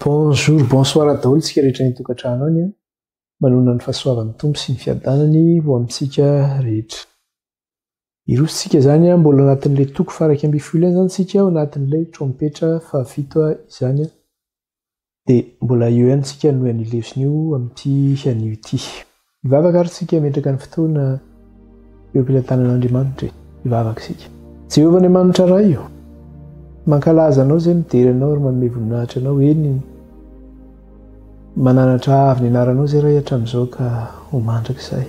Bonjour bonsoir daholo tsika rehetra ny tokantrano any a. Manonona ny fahasoavan'ny Tompo sy ny fiadanany ho amintsika rehetra. Irosontsika zany a mbola anatin'le toko faraika ambin'ny folo ihany zany tsika ao anatin'ilay trompetra fahavito izany a. Dia mbola eo ihany tsika no anio lesona io amin'ity anio ity. Hivavaka ary tsika hametraka ny fotoana eo am-pilantanan'Andriamanitra e. Hivavaka isika. Jehovah Andriamanitra Ray o, mankalaza Anao izay midera Anao ary manome voninahitra Anao, eny, mananatra avo ny anaranao izay Ray hatramin'izao ka ho mandrakizay.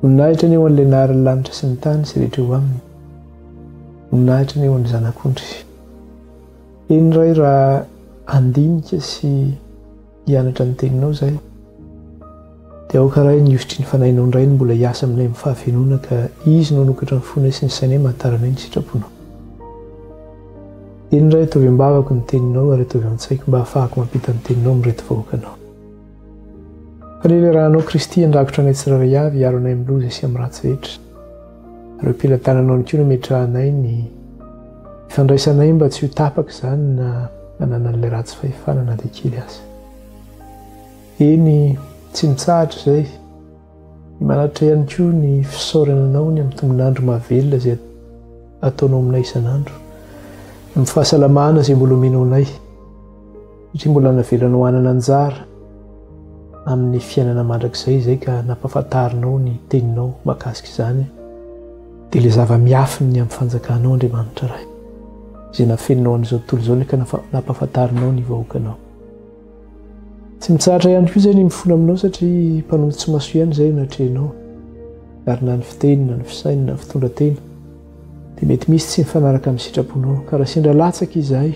Voninahitra anie ho an'ilay naharin'ny lanitra sy ny tany sy rehetra eo aminy. Voninahitra anie ho an'ny Zanak'ondry. Eny iray raha handinika sy hianatra ny teninao izay dia aoka iray ny hivotry ny fanahinao indray ny mbola hiasa aminay amin'ny fahavenoana ka izy no hanokatra ny fonay sy ny sainay mba hahataranay ny sitraponao. Eny iray ataovy am-bavako ny teninao ary ataovy an-tsaiko mba hahafahako mampita ny teninao amin'ireto vahoakanao. Fanelerahanao Kristy handrakotra anay tsirairay avy hiaro anay amin'ny loza sy amin'ny ratsy rehetra. Ireo mpila tananao ihany koa no ametrahanay ny ifandraisanay mba tsy ho tapaka izany na ananan'ilay ratsy fahefana na dia kely aza. Eny, tsy mitsahatra izay. Manatra ihany koa ny fisaorana anao ny amin'ny tombon'andro mahavelona izay ataonao aminay isan'andro, amin'ny fahasalamana izay mbola omenao anay. satria mbola navelanao hanana anjara amin'ny fiainana mandrakizay izay ka nampafantarinao ny teninao makasika izany dia ilay zava-miafiny ny amin'ny fanjakanao Andriamanitra Ray izay nafeninao an'izao tontolo izao ny ka nampafantarinao ny vahoakanao tsy mitsahatra ihany koa izay ny mifona aminao satria mpanompo tsy maso ihany izay natrehinao ary na ny fiteny na ny fisainina ny fitondra tena dia mety misy tsy mifanaraka amin'ny sitraponao. Ka raha sendra latsaka izahay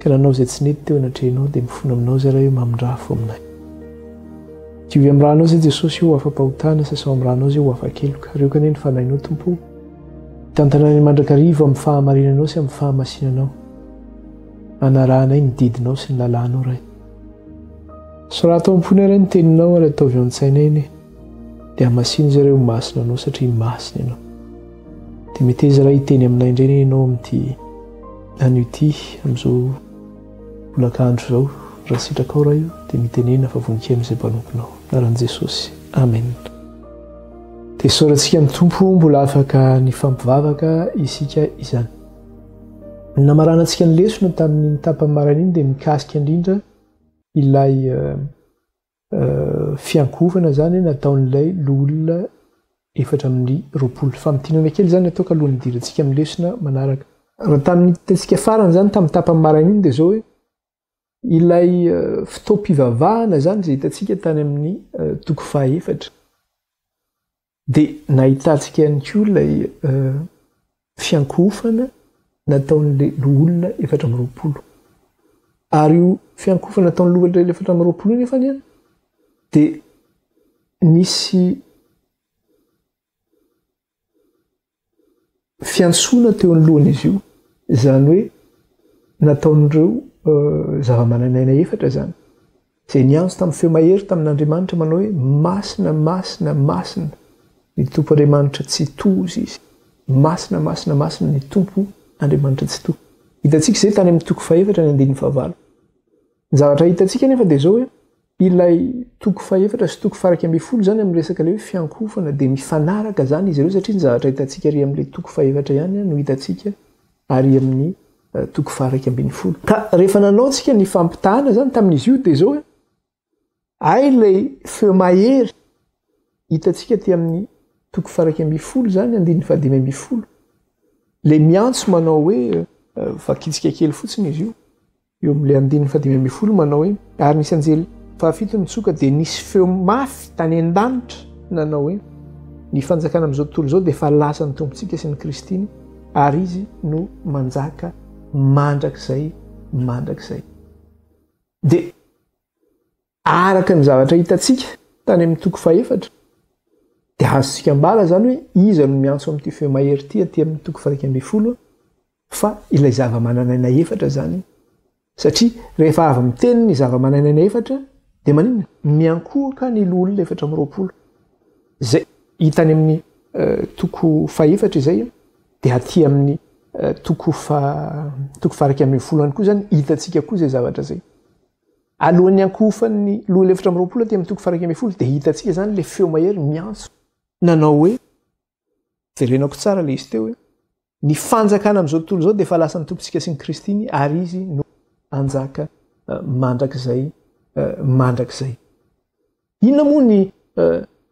ka nanao izay tsy nety teo anatrehanao, dia mifona aminao izay Ray hoe mamindrà fo aminay. Diovy amin'ny ranao izay Jesosy io afa-pahotana, sasao amin'ny ranao izay ho afa-keloka. Arioka anie ny fanahinao Tompo o. Hitantana anay mandrakariva amin'ny fahamarinanao sy amin'ny fahamasinanao, hanarahanay ny didinao sy ny lalànao Ray. Soraty ao am-ponay Ray ny teninao ary ataovy ao an-tsainay anie. Dia hamasino zareo masina anao satria masina ianao. Dia meteza raha hiteny aminay indray anie ianao amin'ity an'ity amin'izao bolakandro izao raha sitrakao raha io dia mitenena fa voninkaino izay mpanomponao. Anaran'i Jesosy. Amen. Dia soratsika ny Tompo mbola afaka nifampivavaka isika izany. Ny namaranantsika ny lesona tamin'iny tapany maraina iny dia mikasika indrindra ilay Fiankohofana izany nataon'ilay loholona efatra amby roapolo. Famintinana kely izany ataoko alohan'ny hidirantsika amin'ny lesona manaraka. Raha tamin'ny hitantsika farany izany tamin'ny tapany maraina iny dia izao hoe, ilay fotoam-pivavahana izany izay hitantsika tany amin'ny toko fahaefatra. Dia nahitantsika ihany koa ilay fiankohofana nataon'ilay loholona efatra amby roapolo. Ary io fiankohofana nataon'ny loholona efatra amby roapolo io nefa dia nisy fiantsoana teo anoloan'izy io, izany hoe nataon'ireo zava-mananaina efatra izany, izay niantso tamin'ny feo mahery tamin'Andriamanitra manao hoe, Masina, masina, masina ny Tompo Andriamanitra Tsitoha izy, masina, masina, masina ny Tompo Andriamanitra Tsitoha. Hitantsika izay tany amin'ny toko fahefatra ny andininy fahavalo. Ny zavatra hitantsika anefa dia izao hoe, Ilay toko fahefatra sy toko faharaika ambin'ny folo izany amin'ny resaka ilay hoe fiankohofana dia mifanaraka izany izy ireo satria ny zavatra hitantsika ary amin'ilay toko fahefatra ihany no hitantsika ary amin'ny toko faharaika ambin'ny folo. Ka rehefa nanao tsika ny fampitahana izany tamin'izy io dia izao hoe ay ilay feo mahery hitantsika aty amin'ny toko faharaika ambin'ny folo izany andininy fahadimy ambin'ny folo. Ilay miantso manao hoe vakitsika kely fotsiny izy io. Eo amin'ilay andininy fahadimy ambin'ny folo manao hoe, Ary nisy anjely fahafito nitsoka, dia nisy feo mafy tany an-danitra nanao hoe, Ny fanjakana amin'izao tontolo izao dia efa lasan'ny Tompontsika sy ny Kristiny, ary Izy no manjaka mandrakizay mandrakizay. Dia. Araka ny zavatra hitantsika tany amin'ny toko fahefatra, dia azontsika ambara izany hoe iza no miantso amin'ity feo mahery ity aty amin'ny toko faha-iraika ambin'ny folo, fa ilay zava-manan'aina efatra izany. Satria rehefa avy miteny ny zava-manan'aina efatra, dia maninona? Miankohoka ny loholona efatra amby roapolo. Izay hita any amin'ny toko fahefatra izay, dia aty amin'ny toko faha-iraika ambin'ny folo ihany koa izany hitantsika koa izay zavatra izay. Alohan'ny hiankohofan'ny loholona efatra amby roapolo aty amin'ny toko faha-iraika ambin'ny folo dia hitantsika izany ilay feo mahery miantso nanao hoe, jerenako tsara ilay izy teo hoe, ny fanjakana amin'izao tontolo izao dia efa lasan'ny Tompontsika sy ny Kristiny ary Izy no hanjaka mandrakizay mandrakizay. Inona moa ny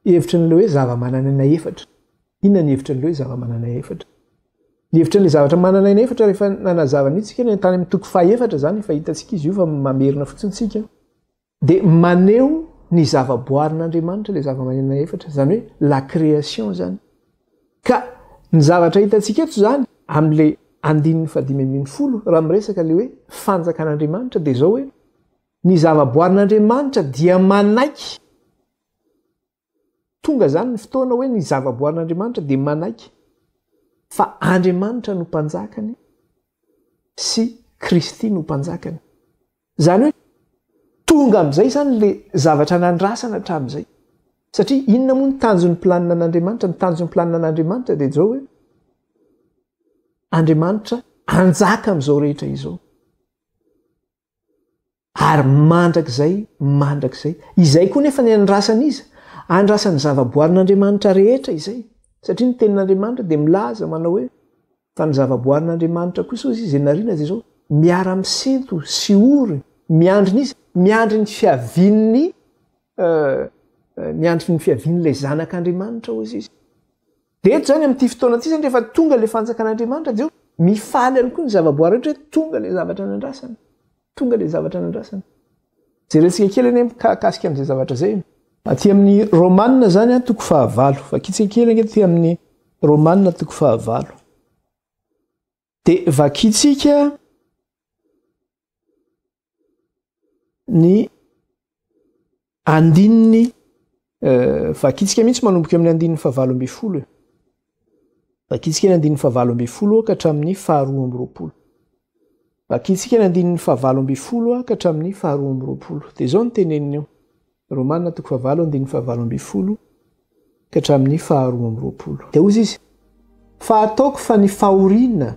hevitry ny le hoe zava-mananaina efatra? Inona ny hevitry ny le hoe zava-mananaina efatra? Ny hevitry ny zavatra mananaina efatra rehefa nanazava ny hitsika ny tany amin'ny toko fahefatra zany efa hitantsika izy io fa mamerina fotsiny tsika dia maneho ny zavaboarin'Andriamanitra le zava-mananaina efatra zany hoe la création zany ka ny zavatra hitantsika eto zany amin'le andininy fadimy ambin'ny folo raha miresaka le hoe fanjakan'Andriamanitra dia zao hoe Ny zavaboarin'Andriamanitra dia manaiky, tonga izany ny fotoana hoe ny zavaboarin'Andriamanitra dia manaiky fa Andriamanitra no mpanjakany sy Kristy no mpanjakany. Izany hoe tonga amin'izay izany ilay zavatra nandrasana hatramin'izay. Satria inona moa ny tanjon'ny planina an'Andriamanitra? Ny tanjon'ny planina an'Andriamanitra dia izao hoe Andriamanitra hanjaka amin'izao rehetra izao. Ary mandrakizay, mandrakizay. Izay koa nefa ny andrasan'iza? Andrasan'ny zavaboarin'Andriamanitra rehetra izay, satria ny Tenin'Andriamanitra dia milaza manao hoe, Fa ny zavaboarin'Andriamanitra kosa, hoy Izy, izay nariana dia izao, Miara-misento sy ory, miandry ny iza? Miandry ny fiavian'ny, miandry ny fiavian'ilay Zanak'Andriamanitra, hoy Izy. Dia eto izany amin'ity fotoana ity izany rehefa tonga ilay fanjakan'Andriamanitra dia mifaly ihany koa ny zavaboary rehetra hoe tonga ilay zavatra nandrasana. Tonga ilay zavatra nandrasana. Jerentsika kely anie mikasika amin'izay zavatra izay. Aty amin'ny Romanina izany an toko fahavalo. Vakitsika kely ange aty amin'ny Romanina toko fahavalo. Dia vakintsika ny andininy eh, vakintsika mihitsy manomboka amin'ny andininy fahavalo amby folo e. Vakintsika ny andininy fahavalo amby folo ka hatramin'ny faharoa amby roapolo. Vakintsika ny andininy fahavalo amby folo ka hatramin'ny faharoa amby roapolo. Dia izao ny teneniny eo. Romana toko fahavalo andininy fahavalo ambin'ny folo ka hatramin'ny faharoa amby roapolo dia hozy izy, Fa ataoko fa ny fahoriana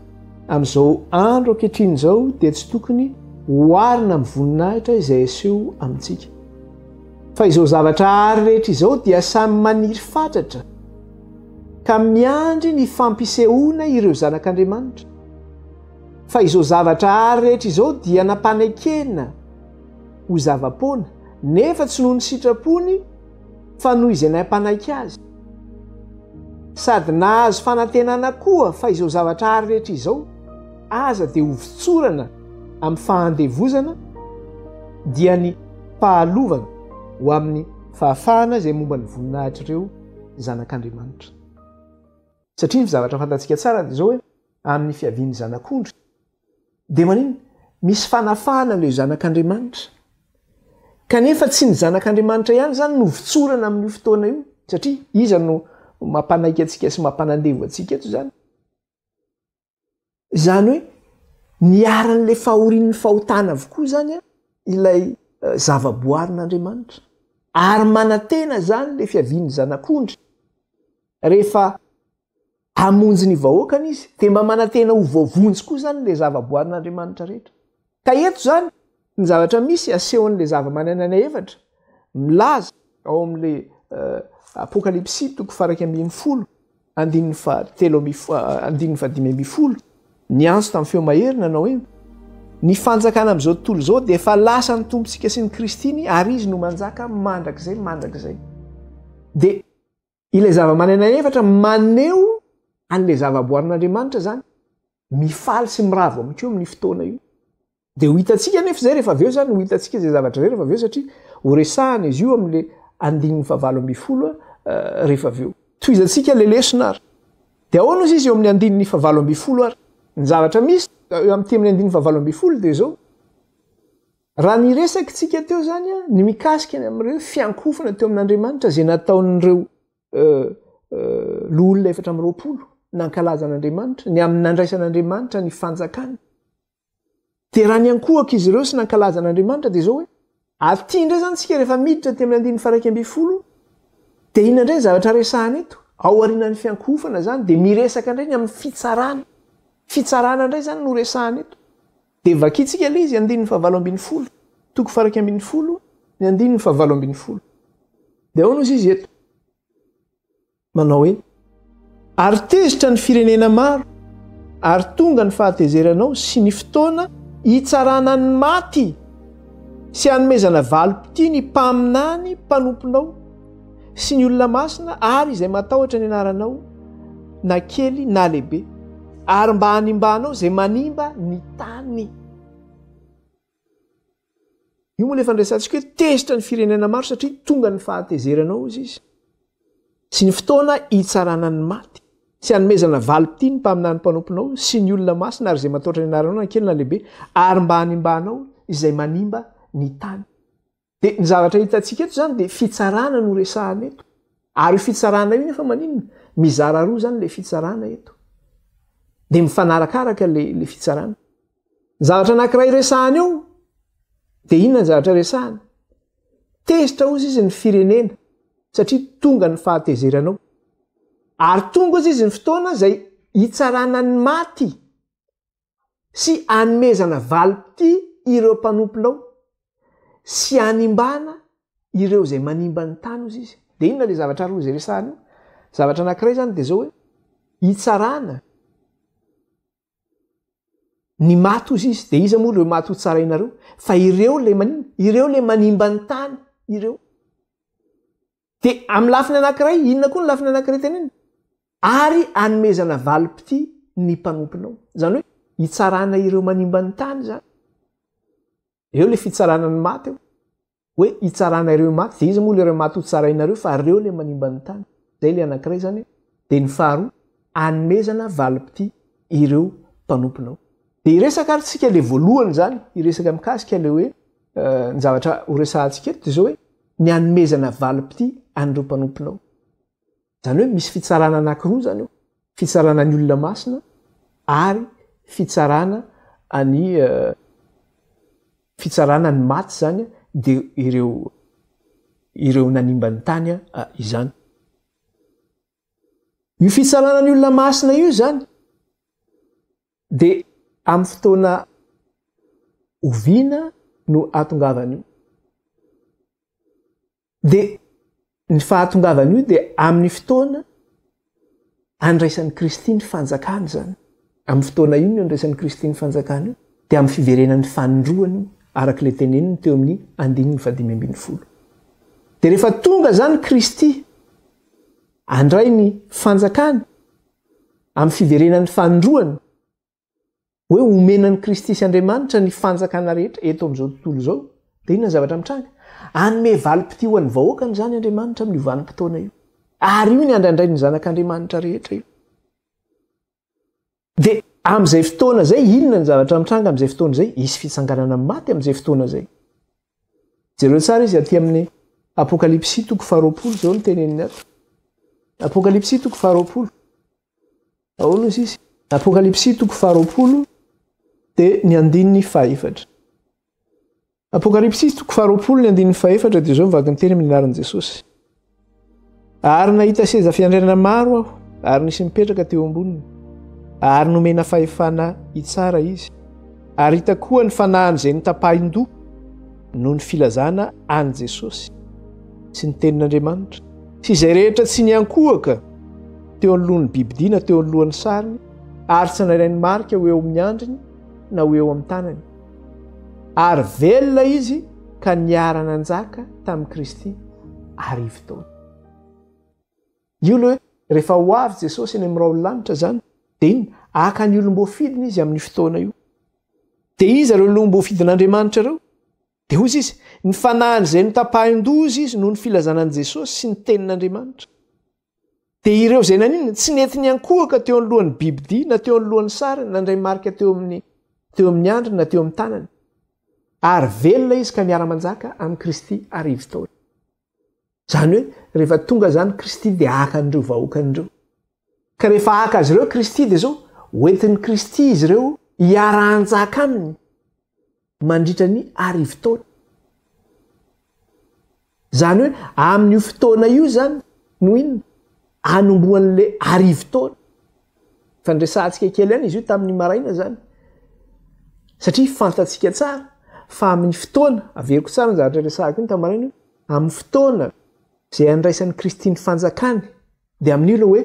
amin'izao andro ankehitriny izao dia tsy tokony hoarina amin'ny voninahitra izay aseho amintsika. Fa izao zavatra àry rehetra izao dia samy maniry fatratra ka miandry ny fampisehoana ireo zanak'Andriamanitra. Fa izao zavatra àry rehetra izao dia nampanekena, ho zava-poana, nefa tsy noho ny sitrapony fa noho izay nampanaiky azy. Sady nahazo fanantenana koa fa izao zavatra àry rehetra izao, aza dia ho votsorana amin'ny fahandevozana, dia ny fahalovana ho amin'ny fahafahana izay momba ny voninahitr'ireo zanak'Andriamanitra. Satria ny zavatra fantatsika tsara dia izao hoe, amin'ny fiavian'ny Zanak'ondry, Dia maninona? Misy fanafahana amin'ireo zanak'Andriamanitra. Kanefa tsy ny zanak'Andriamanitra ihany izany no votsorana amin'io fotoana io, satria iza no mampanaiky antsika sy mampanandevo antsika eto izany? Izany hoe niharan'ilay fahorian'ny fahotana avokoa izany ilay eh, zavaboarin'Andriamanitra. Ary manantena izany ilay fiavian'ny zanak'ondry rehefa Hamonjy ny vahoakany izy, dia mba manantena ho voavonjy koa izany ilay zava-boarin'Andriamanitra rehetra. Ka eto izany ny zavatra misy asehon'ilay zava-manan'aina efatra milaza ao amin'ilay Apokalypsy toko faraika ambin'ny folo andininy fahatelo andininy fahadimy ambin'ny folo, niantso tamin'ny feo mahery nanao hoe, Ny fanjakana amin'izao tontolo izao dia efa lasan'ny Tompontsika sy ny Kristiny ary Izy no manjaka mandrakizay mandrakizay. Dia. Ilay zava-manana efatra maneho an'ilay zava-boarin'Andriamanitra izany, mifaly sy miravo amin'i Koa amin'ny fotoana io. Dia ho hitantsika anefa izay rehefa avy eo izany, ho hitantsika izay zavatra izay rehefa avy eo satria ho resahana izy io amin'ilay andininy fahavalo ambin'ny folo rehefa avy eo. Tohizantsika ilay lesona ary. Dia ahoana ozy izy eo amin'ny andininy fahavalo ambin'ny folo ary? Ny zavatra misy eo amin'ny temin'ny andininy fahavalo ambin'ny folo dia izao. Raha niresaka isika teo izany ny mikasika ny amin'ireo fiankohofana teo amin'Andriamanitra izay nataon'ireo loholona efatra amby roapolo nankalaza an'Andriamanitra ny amin'ny nandraisan'Andriamanitra ny fanjakany. Dia raha niankohoka izy ireo sy nankalaza an'Andriamanitra dia izao hoe aty indray izany isika rehefa miditra aty amin'ny andininy faraika ambin'ny folo dia inona indray ny zavatra resahana eto? Ao aorianan'ny fiankohofana izany dia miresaka indray ny amin'ny fitsarana. Fitsarana indray izany no resahana eto. Dia vakintsika ilay izy, andininy fahavalo ambin'ny folo, toko faha-iraika ambin'ny folo, ny andininy fahavalo ambin'ny folo. Dia ahoana hozy izy eto? Manao hoe, Ary tezitra ny firenena maro, ary tonga ny fahatezeranao sy ny fotoana hitsarana ny maty, sy hanomezana valim-pitia ny mpaminany mpanomponao, sy ny olona masina ary izay matahotra ny anaranao na kely na lehibe ary mba hanimbanao izay manimba ny tany io moa lefa nresantsika hoe tezitra ny firenena maro satria tonga ny fahatezeranao izy izy sy ny fotoana hitsarana ny maty sy anomezana valiti ny mpaminany mpanomponao sy ny olona masina ary izay matahotra ny anaranao na kely na lehibe ary mba hanimbanao izay manimba ny tany Dia ny zavatra hitantsika eto izany dia fitsarana no resahana eto. Ary io fitsarana io nefa maninona? Mizara roa izany ilay fitsarana eto. Dia mifanarakaraka ilay fitsarana. Ny zavatra anankiray resahana eo dia inona ny zavatra resahana? Tezitra hozy izy ny firenena satria tonga ny fahatezeranao. Ary tonga hozy izy ny fotoana izay hitsarana ny maty. sy anomezana valim-pitia ireo mpanompolao sy hanimbana ireo izay manimba ny tany hozy izy. Dia inona ilay zavatra roa izay resahana io? Zavatra anankiray izany dia izao hoe hitsarana ny maty hozy izy. Dia iza moa ireo maty hotsaraina ireo? Fa ireo ilay manimba, ireo ilay manimba ny tany ireo. Dia amin'ny lafiny anankiray, inona koa ny lafiny anankiray tenenina? Ary anomezana valim-pitia ny mpanomponao. Izany hoe hitsarana ireo manimba ny tany izany. Eo ilay fitsarana ny maty eo. Hoe hitsarana ireo maty, dia iza moa ilay maty hotsarainareo fa ireo ilay manimba ny tany. Izay ilay anankiray izany. Dia ny faharoa, anomezana valim-pitia ireo mpanomponao. Dia hiresaka ary tsika ilay voalohany izany, hiresaka mikasika ilay hoe ny zavatra horesahantsika eto dia izao hoe, ny hanomezana valim-pitia an'ireo mpanomponao. Izany hoe misy fitsarana anankiroa izany eo, fitsarana ny olona masina ary fitsarana ny fitsarana ny maty izany dia ireo ireo nanimba ny tany izany. Io fitsarana ny olona masina io izany Dia amin'ny fotoana oviana no ahatongavan'io? Dia ny fahatongavan'io dia amin'ny fotoana andraisan'i Kristy ny fanjakany izany. Amin'ny fotoana inona io andraisan'i Kristy ny fanjakany io? Dia amin'ny fiverenan'ny fanindroany io, araka ilay teneniny teo amin'ny andininy fahadimy ambin'ny folo. Dia rehefa tonga izany Kristy handray ny fanjakany, Amin'ny fiverenan'ny fanindroany, hoe homena an'i Kristy sy Andriamanitra ny fanjakana rehetra eto amin'izao tontolo izao, dia inona ny zavatra mitranga? Hanome valim-pitia ho an'ny vahoakany izany Andriamanitra amin'io vanim-potoana io. Ary io ny andrandrain'ny zanak'Andriamanitra rehetra io. Dia amin'izay fotoana izay, inona ny zavatra mitranga amin'izay fotoana izay? Hisy fitsanganana amin'ny maty amin'izay fotoana izay. Jereo tsara izy aty amin'ny Apokalypsy toko faharoapolo izao ny teneniny ato. Apokalypsy toko faharoapolo. Ahoana izy izy? Apokalypsy toko faharoapolo dia ny andininy fahefatra. Apokalypsy toko faharoapolo ny andininy fahefatra dia izao ny vaky ny teny amin'ny anaran'i Jesosy. Ary nahita seza fiandrianana maro aho, ary nisy mipetraka teo amboniny, ary nomena fahefana hitsara izy. Ary hita koa ny fanahin'izay notapahin-doha noho ny filazana an'i Jesosy sy ny tenin'Andriamanitra, sy izay rehetra tsy niankohoka teo anoloan'ny bibidia na teo anoloan'ny sariny, ary tsy nandray ny marika ho eo amin'ny andriny na ho eo amin'ny tanany. Ary velona izy ka niara-nanjaka tamin'i Kristy arivo taona. Io ilay hoe rehefa ho avy Jesosy eny amin'ny rahon'ny lanitra izany, dia inona? Haka ny olom-boafidiny izy amin'io fotoana io. Dia iza ireo olom-boafidin'Andriamanitra ireo? Dia hoy izy, Ny fanahin'izay notapahin-doza izy noho ny filazana an'i Jesosy sy ny tenin'Andriamanitra. Dia ireo izay naninona? Tsy nety niankohoka teo anoloan'ny bibidia na teo anoloan'ny sariny na indray marika teo amin'ny teo amin'ny andriny na teo amin'ny tanany. Ary velona izy ka miara-manjaka amin'i Kristy arivo taona. Izany hoe rehefa tonga izany Kristy dia haka an'ireo vahoakany ireo. Ka rehefa haka azy ireo Kristy dia izao, hoentin'i Kristy izy ireo hiara-hanjaka aminy. mandritra ny arivo taona. Izany hoe amin'io fotoana io izany no inona? Anombohan'ilay arivo taona. Efa niresahantsika kely ihany izy io tamin'ny maraina izany. Satria fantatsika tsara fa amin'ny fotoana, averiko tsara ny zavatra resahako iny tamin'ny maraina io, amin'ny fotoana izay andraisan'i Kristy ny fanjakany, dia amin'io ilay hoe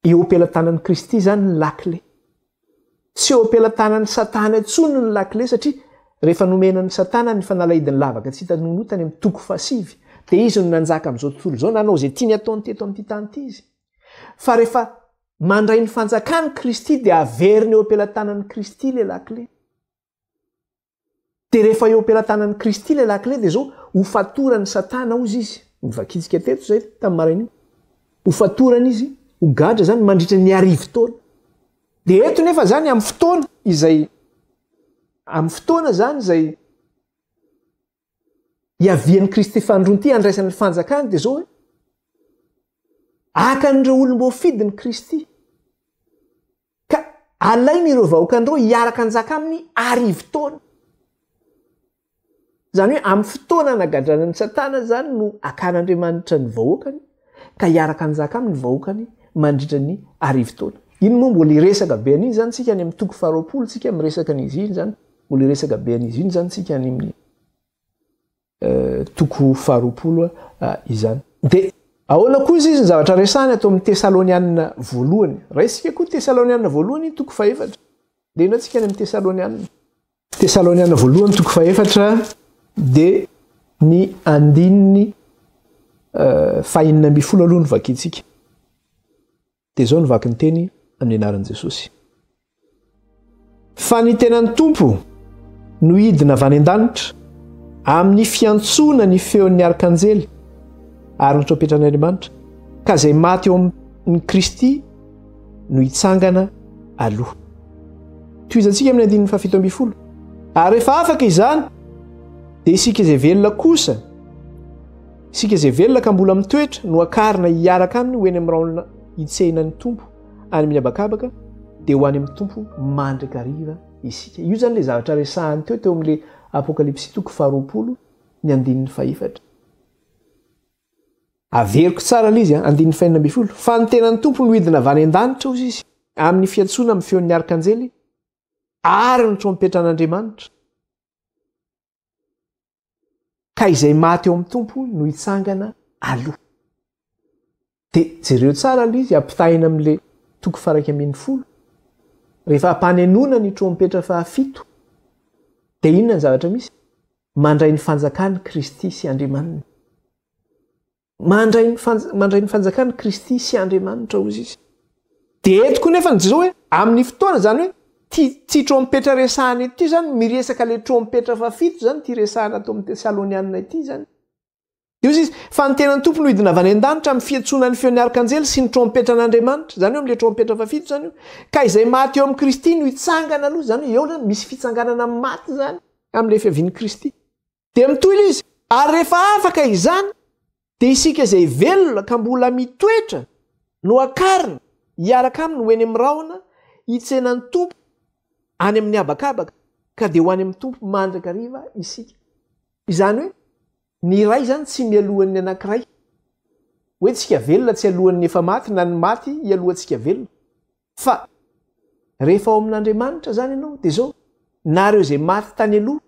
Eo am-pelatanan'i Kristy izany ny lakile. Tsy eo am-pelatanan'i Satana intsony ny lakile satria rehefa nomena an'i Satana ny fanalahidin'ny lavaka tsy hita nonotany amin'ny toko fahasivy dia izy no nanjaka amin'izao tontolo izao nanao izay tiany ataony teto amin'ity tany ity izy. Fa rehefa mandray ny fanjakany Kristy dia averiny eo am-pelatanan'i Kristy ilay lakile. Dia rehefa eo am-pelatanan'i Kristy ilay lakile dia izao, hofatoran'i Satana hozy izy. Nivakintsika teto izay tamin'ny marain'iny. Hofatorana izy, ho gadra izany mandritra ny arivo taona. Dia eto nefa izany amin'ny fotoana izay amin'ny fotoana izany izay hiavian'i Kristy fahandroany ity handraisany ny fanjakany dia izao hoe akan'ireo olom-boafidy ny Kristy ka alainy ireo vahoakan'ireo hiaraka anjaka aminy arivo taona izany hoe amin'ny fotoana anagadranan'ny satana izany no akan'andriamanitra ny vahoakany ka hiaraka hanjaka aminy ny vahoakany mandritra ny arivo taona. Iny moa mbola hiresaka be an'iny izany isika any amin'ny toko faharoapolo isika miresaka an'izy iny izany, mbola hiresaka be an'izy iny izany isika any amin'ny toko faharoapolo izany. Dia ahoana koa izy izy ny zavatra resahany ato amin'ny Tesalonianina voalohany? Raisika koa Tesalonianina voalohany toko fahefatra. Dia ino antsika any amin'ny Tesalonianina? Tesaloniana voalohany toko fahefatra dia ny andininy fahenina ambin'ny folo aloha no vakintsika. Dia izao no vakin'ny teny amin'ny anaran'i Jesosy. Fa ny tenan'ny Tompo no hidina avy any an-danitra amin'ny fiantsoana ny feon'ny arkanjely ary ny trompetan'Andriamanitra ka izay maty eo amin'ny Kristy no hitsangana aloha. Tohizantsika amin'ny andininy fahafito ambin'ny folo. Ary rehefa afaka izany, dia isika izay velona kosa, isika izay velona ka mbola mitoetra no akarina hiaraka aminy ho eny amin'ny raolona hitsehina ny Tompo any amin'ny habakabaka, dia ho any amin'ny Tompo mandrakariva isika. Io izany ilay zavatra resahany teo teo amin'ilay Apokalypsy toko faharoapolo ny andininy fahefatra. Averiko tsara ilay izy, andininy fahenina ambin'ny folo, Fa ny tenan'ny Tompo no hidina avy any an-danitra, hozy izy, amin'ny fiantsoana amin'ny feon'ny arkanjely ary ny trompetran'Andriamanitra, ka izay maty ao amin'ny Tompo no hitsangana aloha. Dia jereo tsara ilay izy, ampitahaina amin'ilay toko faraika ambin'ny folo, rehefa ampanenoana ny trompetra fahafito, dia inona ny zavatra misy? Mandray ny fanjakany Kristy sy Andriamaniny. Mandray ny mandray ny fanjakany Kristy sy Andriamanitra hozy izy. Dia eto koa nefa ny Jesoa hoe amin'ny fotoana izany hoe ty tsy trompetra resahana eto izany miresaka ilay trompetra fahafito izany ity resahana ato amin'ny Tesalonianina ity izany. Dia hoy izy, Fa ny tenan'ny Tompo no hidina avy any an-danitra amin'ny fiantsoana ny feon'ny arkanjely sy ny trompetran'Andriamanitra, izany hoe amin'ilay trompetra fahafito izany io, ka izay maty eo amin'i Kristy no hitsangana aloha, izany hoe eo izany misy fitsanganana amin'ny maty izany amin'ilay fiavian'i Kristy. Dia mitohy ilay izy, ary rehefa afaka izany, dia isika izay velona ka mbola mitoetra no hakarina hiaraka aminy ho eny amin'ny rahona hitsena ny Tompo, any amin'ny habakabaka ka dia ho any amin'ny Tompo mandrakariva isika. Izany hoe ny iray izany tsy mialohan'ny anankiray. Hoe tsika velona tsy alohan'ny efa maty na ny maty ialohantsika velona. Fa rehefa ao amin'Andriamanitra izany ianao dia izao, na ireo izay maty tany aloha,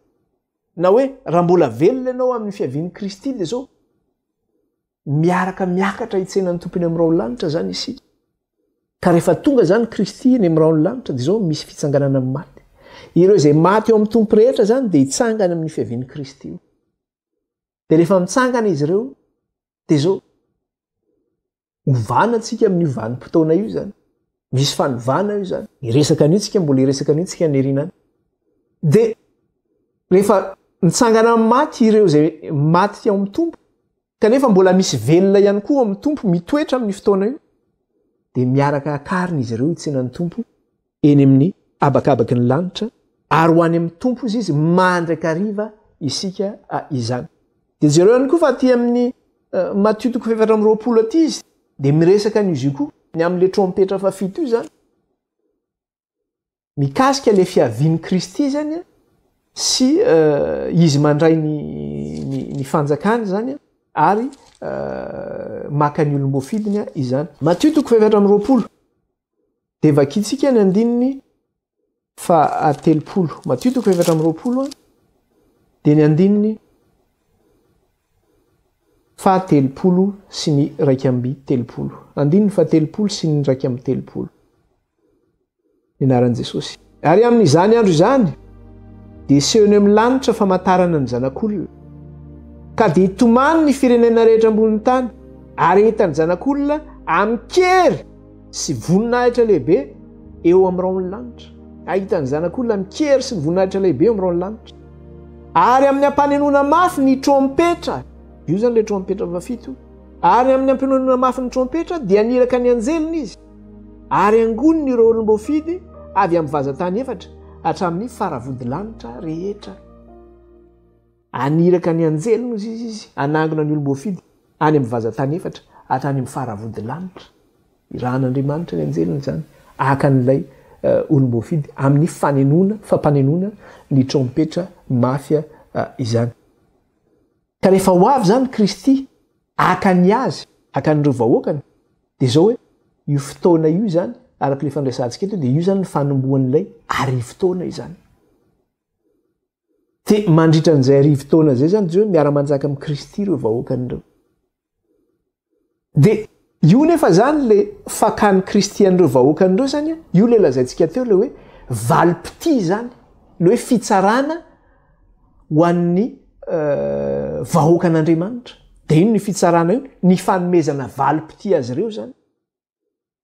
na hoe raha mbola velona ianao amin'ny fiavian'i Kristy dia izao, miaraka miakatra hitsena ny tompo eny amin'ny raon'ny lanitra zany isika ka rehefa tonga zany kristy eny amin'ny raon'ny lanitra de zao misy fitsanganana amin'ny maty ireo izay maty eo amin'ny tompo rehetra zany de hitsangana amin'ny fiavian'ny kristy io de rehefa mitsangana izy ireo de zao hovana antsika amin'ny io vanim-potoana io zany Misy fanovana io zany. Iresaka anio tsika mbola iresaka anio tsika nirina any. De rehefa mitsangana amin'ny maty ireo izay maty ao amin'ny tompo kanefa mbola misy velona ihany koa ao amin'ny tompo mitoetra amin'ny fotoana io dia miaraka akarina izy ireo itsenan'ny tompo eny amin'ny abakabaky ny lanitra ary ho any amin'ny tompo izy izy mandrakariva isika izany dia jereo ihany koa fa aty amin'ny Matio toko fahefatra amby roapolo aty izy dia miresaka an'izy io koa ny amin'ilay trompetra fahafito io zany mikasika ilay fiavian'i kristy zany a sy eh, izy mandray ny ny fanjakany zany a ary eh, maka ny olom-boafidiny a izany matio toko fahefatra amby roapolo dia vakitsika ny andininy Faha telopolo. Matio toko efatra amby roapolo dia ny andininy faha telopolo sy ny iraika amby telopolo. Andininy faha telopolo sy ny iraika amby telopolo. Ny anaran'i Jesosy. Ary amin'izany andro izany dia seho eny amin'ny lanitra famantarana ny Zanak'olona. Ka dia hitomany ny firenena rehetra ambonin'ny tany ary hitan'ny Zanak'olona amin-kery. sy voninahitra lehibe eo amin'ny rahon'ny lanitra. Ahita ny Zanak'olona mikery sy ny voninahitra lehibe eo amin'ny rahon'ny lanitra. Ary amin'ny ampanenona mafy ny trompetra, io izany ilay trompetra fahafito, ary amin'ny ampanenona mafy ny trompetra dia niraka ny anjeliny izy, ary angoniny ireo olom-boafidy avy amin'ny vazan-tany efatra hatramin'ny faravodilanitra rehetra. Haniraka ny anjeliny, hoy Izy, Izy hanangona ny olom-boafidy any amin'ny vazan-tany efatra hatrany amin'ny fara-vodilanitra. Irahan'Andriamanitra ny anjeliny izany, haka an'ilay olom-boafidy amin'ny fanenona, fampanenona ny trompetra mafy izany. Ka rehefa ho avy izany Kristy haka ny Azy, haka an'ireo vahoakany, dia izao hoe, io fotoana io izany, araka ilay fandresantsika eto, dia io izany ny fanombohan'ilay arivo taona izany. Te mandritra an'izay arivo taona izay zany Jehovah miara-manjaka amin'i Kristy ireo vahoakany ireo. Dia io nefa zany le fakan'i Kristy an'ireo vahoakany ireo zany a, io le lazaintsika teo le hoe valim-pitia zany, le hoe fitsarana ho an'ny euh, vahoakan'Andriamanitra. Dia iny ny fitsarana io, ny fanomezana valim-pitia azy ireo zany.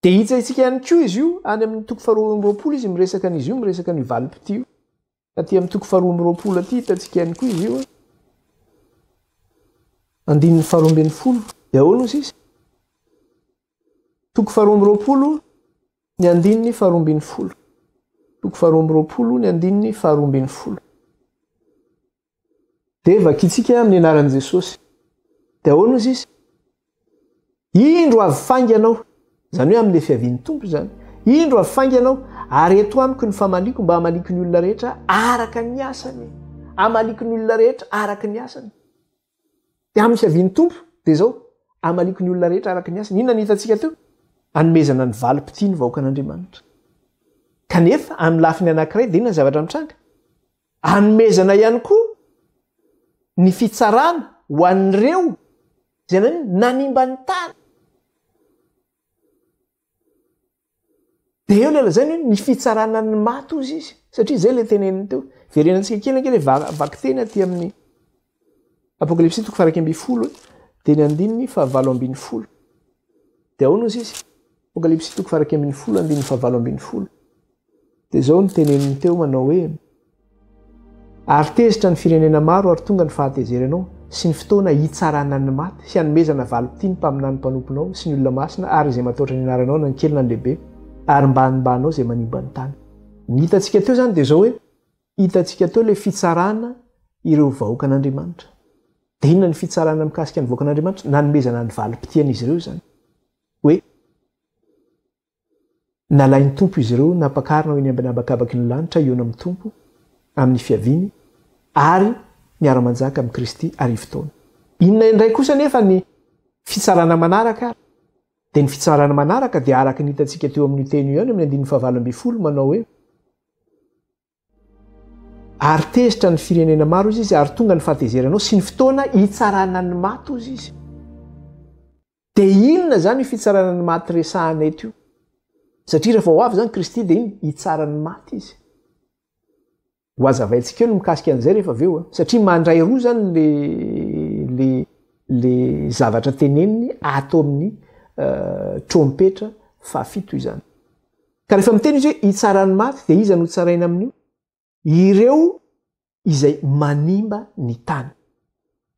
Dia hitsahintsika ihany koa izy io, any amin'ny toko faharoa amby roapolo izy miresaka an'izy io, miresaka an'io valim-pitia io. Aty amin'ny toko faharoa amby roapolo aty hitantsika ihany koa izy io. Andininy faharoa ambin'ny folo, dia ahoana hoy sisa? Toko faharoa amby roapolo, ny andininy faharoa ambin'ny folo. Toko faharoa amby roapolo, ny andininy faharoa ambin'ny folo. Dia vakitsika amin'ny anaran'i Jesosy. Dia ahoana ozy izy? Indro avy faingana aho. Izany hoe amin'ilay fiavian'ny Tompo izany. Indro avy faingana aho ary eto amiko ny famaliako mba hamaliako ny olona rehetra araka ny asany. Hamaliako ny olona rehetra araka ny asany. Dia amin'ny fiavian'ny Tompo dia izao hamaliako ny olona rehetra araka ny asany. Inona ny hitantsika teo? Anomezana ny valim-pitia ny vahoakan'Andriamanitra. Kanefa amin'ny lafiny anankiray dia inona ny zavatra mitranga? Anomezana ihany koa ny fitsarana ho an'ireo izay nanino? Nanimba ny tany. Dia eo ilay lazainy hoe ny fitsarana ny maty hozy izy. Satria izay ilay teneniny teo. Verenantsika kely ange ilay vakiteny aty amin'ny Apokalypsy toko faha-iraika ambin'ny folo dia ny andininy fahavalo ambin'ny folo. Dia ahoana hozy izy? Apokalypsy toko faha-iraika ambin'ny folo andininy fahavalo ambin'ny folo. Dia izao ny teneniny teo manao hoe ary tezitra ny firenena maro ary tonga ny fahatezeranao sy ny fotoana hitsarana ny maty sy hanomezana valim-pitia ny mpaminany mpanomponao sy ny olona masina ary izay mataotra ny anaranao na ny kely na ny lehibe ary mba hanimbanao izay manimba ny tany. Ny hitantsika teo izany dia izao hoe. Hitantsika teo ilay fitsarana ireo vahoakan'Andriamanitra. Dia inona ny fitsarana mikasika ny vahoakan'Andriamanitra? Nanomezana ny valim-pitian'izy ireo izany. Hoe, Nalain'ny Tompo izy ireo, nampakarina ho eny ambany habakabaky ny lanitra, hihaona amin'ny Tompo, amin'ny fiaviany, ary miara-manjaka amin'i Kristy arivo taona. Inona indray kosa anefa ny fitsarana manaraka ary? Dia ny fitsarana manaraka dia araka ny hitantsika teo amin'io teny io ihany ao amin'ny andininy fahavalo ambin'ny folo, manao hoe, Ary tezitra ny firenena maro, hoy izy, ary tonga ny fahatezeranao sy ny fotoana hitsarana ny maty, hoy izy. Dia inona izany io fitsarana ny maty resahana eto io? Satria rehefa ho avy izany Kristy dia iny hitsara ny maty izy. Ho hazavaintsika eo ny mikasika an'izay rehefa avy eo. Satria mandray roa izany le, le, le zavatra teneniny ato amin'ny uh, trompetra fahafito izany. Ka rehefa miteny izy hoe hitsara ny maty dia iza no hotsaraina amin'io? Ireo izay manimba ny tany.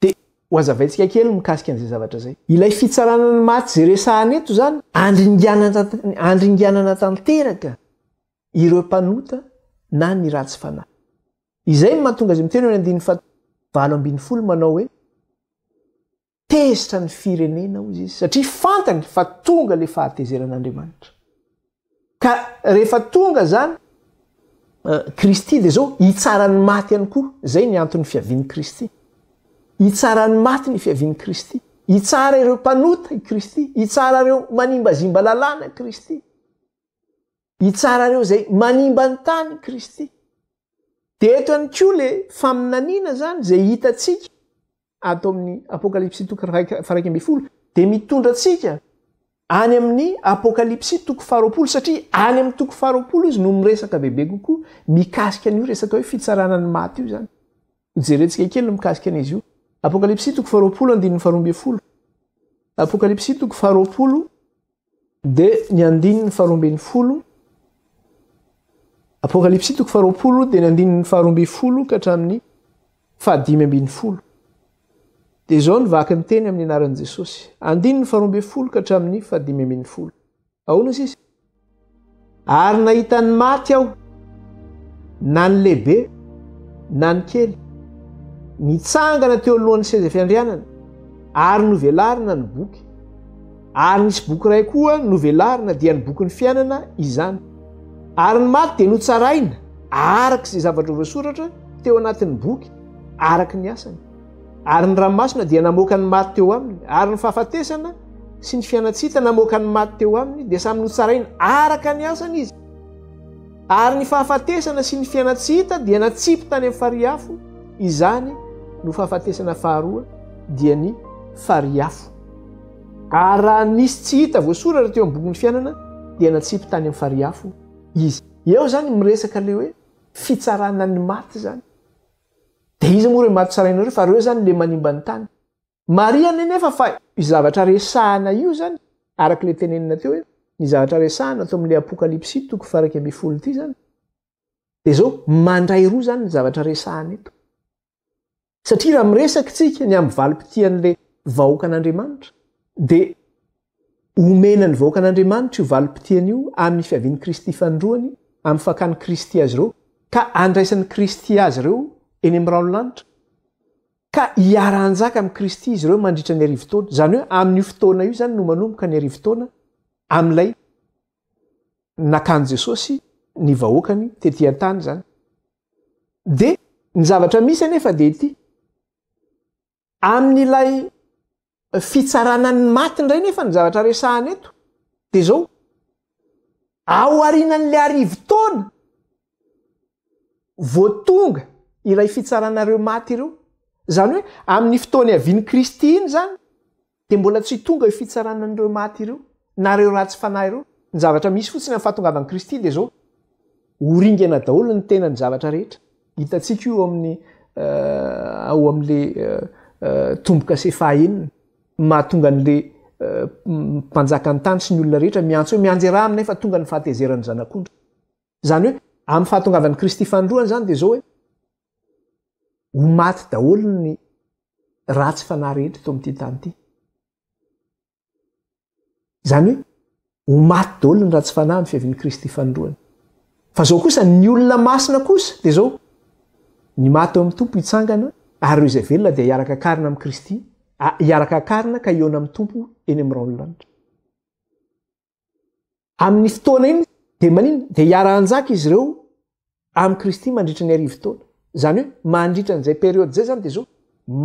Dia hohazavaintsika kely ny mikasika an'izay zavatra izay. Ilay fitsarana ny maty izay resahana eto izany, handringanana tanteraka ireo mpanota na ny ratsy fanahy. Izay no mahatonga azy miteny eo amin'ny andininy faha valo ambin'ny folo manao hoe. Tezitra ny firenena, hoy izy, satria fantany fa tonga ilay fahatezeran'Andriamanitra. Ka rehefa tonga izany, Kristy dia izao hitsara ny maty ihany koa. Izay ny anton'ny fiavian'i Kristy. Hitsara ny maty ny fiavian'i Kristy. Hitsara ireo mpanota i Kristy. Hitsara ireo manimbazimba lalàna Kristy. hitsarareo izay manimba ny tany Kristy. Dia eto ihany koa le faminaniana izany izay hitantsika ato amin'ny Apokalypsy toko faraika ambin'ny folo dia mitondra antsika any amin'ny Apokalypsy toko faharoapolo satria any amin'ny toko faharoapolo izy no miresaka bebe kokoa mikasika an'io resaka hoe fitsarana ny maty io izany. Hojerentsika kely ny mikasika an'izy io. Apokalypsy toko faharoapolo andininy faharoa ambin'ny folo. Apokalypsy toko faharoapolo Dia ny andininy faharoa ambin'ny folo, Apokalypsy toko faharoapolo dia ny andininy faharoa ambin'ny folo ka hatramin'ny fahadimy ambin'ny folo. Dia izao ny vaky ny teny amin'ny anaran'i Jesosy. Andininy faharoa ambin'ny folo ka hatramin'ny fahadimy ambin'ny folo. Ahoana sisa? Ary nahita ny maty aho, na ny lehibe, na ny kely, nitsangana teo alohan'ny seza fiandrianana, ary novelarina ny boky. Ary nisy boky iray koa novelarina, dia ny bokin'ny fiainana izany. Ary ny maty dia notsaraina araka izay zavatra voasoratra teo anatin'ny boky, araka ny asany. Ary ny ranomasina dia namoaka ny maty teo aminy, ary ny fahafatesana sy ny fianan-tsita namoaka ny maty teo aminy, dia samy notsaraina araka ny asany izy. Ary ny fahafatesana sy ny fianan-tsita dia natsipy tany amin'ny farihy afo, izany no fahafatesana faharoa, dia ny farihy afo. Ary raha nisy tsy hita voasoratra teo amin'ny bokin'ny fiainana, dia natsipy tany amin'ny farihy afo izy. Eo izany miresaka ilay hoe fitsarana ny maty izany. Dia iza moa ireo maty tsarainao ireo fa ireo izany ilay manimba ny tany. Marihana anefa fa io zavatra resahana io izany, araka ilay tenenina teo hoe ny zavatra resahana tao amin'ilay Apokalypsy toko faharaika ambin'ny folo ity izany, dia izao, mandray roa izany ny zavatra resahana eto. Satria raha miresaka isika ny amin'ny valim-pitian'ilay vahoakan'Andriamanitra, dia Omena ny vahoakan'Andriamanitra io valim-potiana io amin'ny fiavian'i Kristy fanindroany, amin'ny fakan'i Kristy azy ireo, ka andraisan'i Kristy azy ireo eny amin'ny rahon'ny lanitra, ka hiara-hanjaka amin'i Kristy izy ireo mandritra ny arivo taona. Izany hoe amin'io fotoana io izany no manomboka ny arivo taona amin'ilay nakan'i Jesosy ny vahoakany tety an-tany izany. Dia ny zavatra misy anefa dia ity, Amin'ilay fitsarana ny maty indray nefa ny zavatra resahana eto dia izao, ao arinan'ilay arivo taona vao tonga ilay fitsarana ireo maty ireo, izany hoe amin'ny fotoana iavian'i Kristy iny izany, Dia mbola tsy tonga io fitsarana an'ireo maty ireo, na ireo ratsy fanahy ireo. Ny zavatra misy fotsiny amin'ny fahatongavan'i Kristy dia izao, Ho ringana daholo ny tenan'ny zavatra rehetra. Hitantsika io ao amin'ny ao amin'ilay tombo-kase fahaenina, mahatonga an'ilay mpanjakan'ny tany sy ny olona rehetra miantso hoe, Mianjera aminay fa tonga ny fahatezeran'ny Zanak'ondry. Izany hoe, amin'ny fahatongavan'i Kristy fanindroany izany dia izao hoe, ho maty daholo ny ratsy fanahy rehetra eto amin'ity tany ity. Izany hoe, ho maty daholo ny ratsy fanahy amin'ny fiavian'i Kristy fanindroany. Fa izao kosa, ny olona masina kosa dia izao, ny maty ao amin'ny Tompo hitsangana, ary ireo izay velona dia hiaraka akarina amin'i Kristy, hiaraka akarina ka hihaona amin'ny Tompo eny amin'ny rahon'ny lanitra. Amin'ny fotoana iny dia maninona? Dia hiara-hanjaka izy ireo amin'i Kristy mandritra ny arivo taona. Izany hoe mandritra an'izay période izay izany dia zao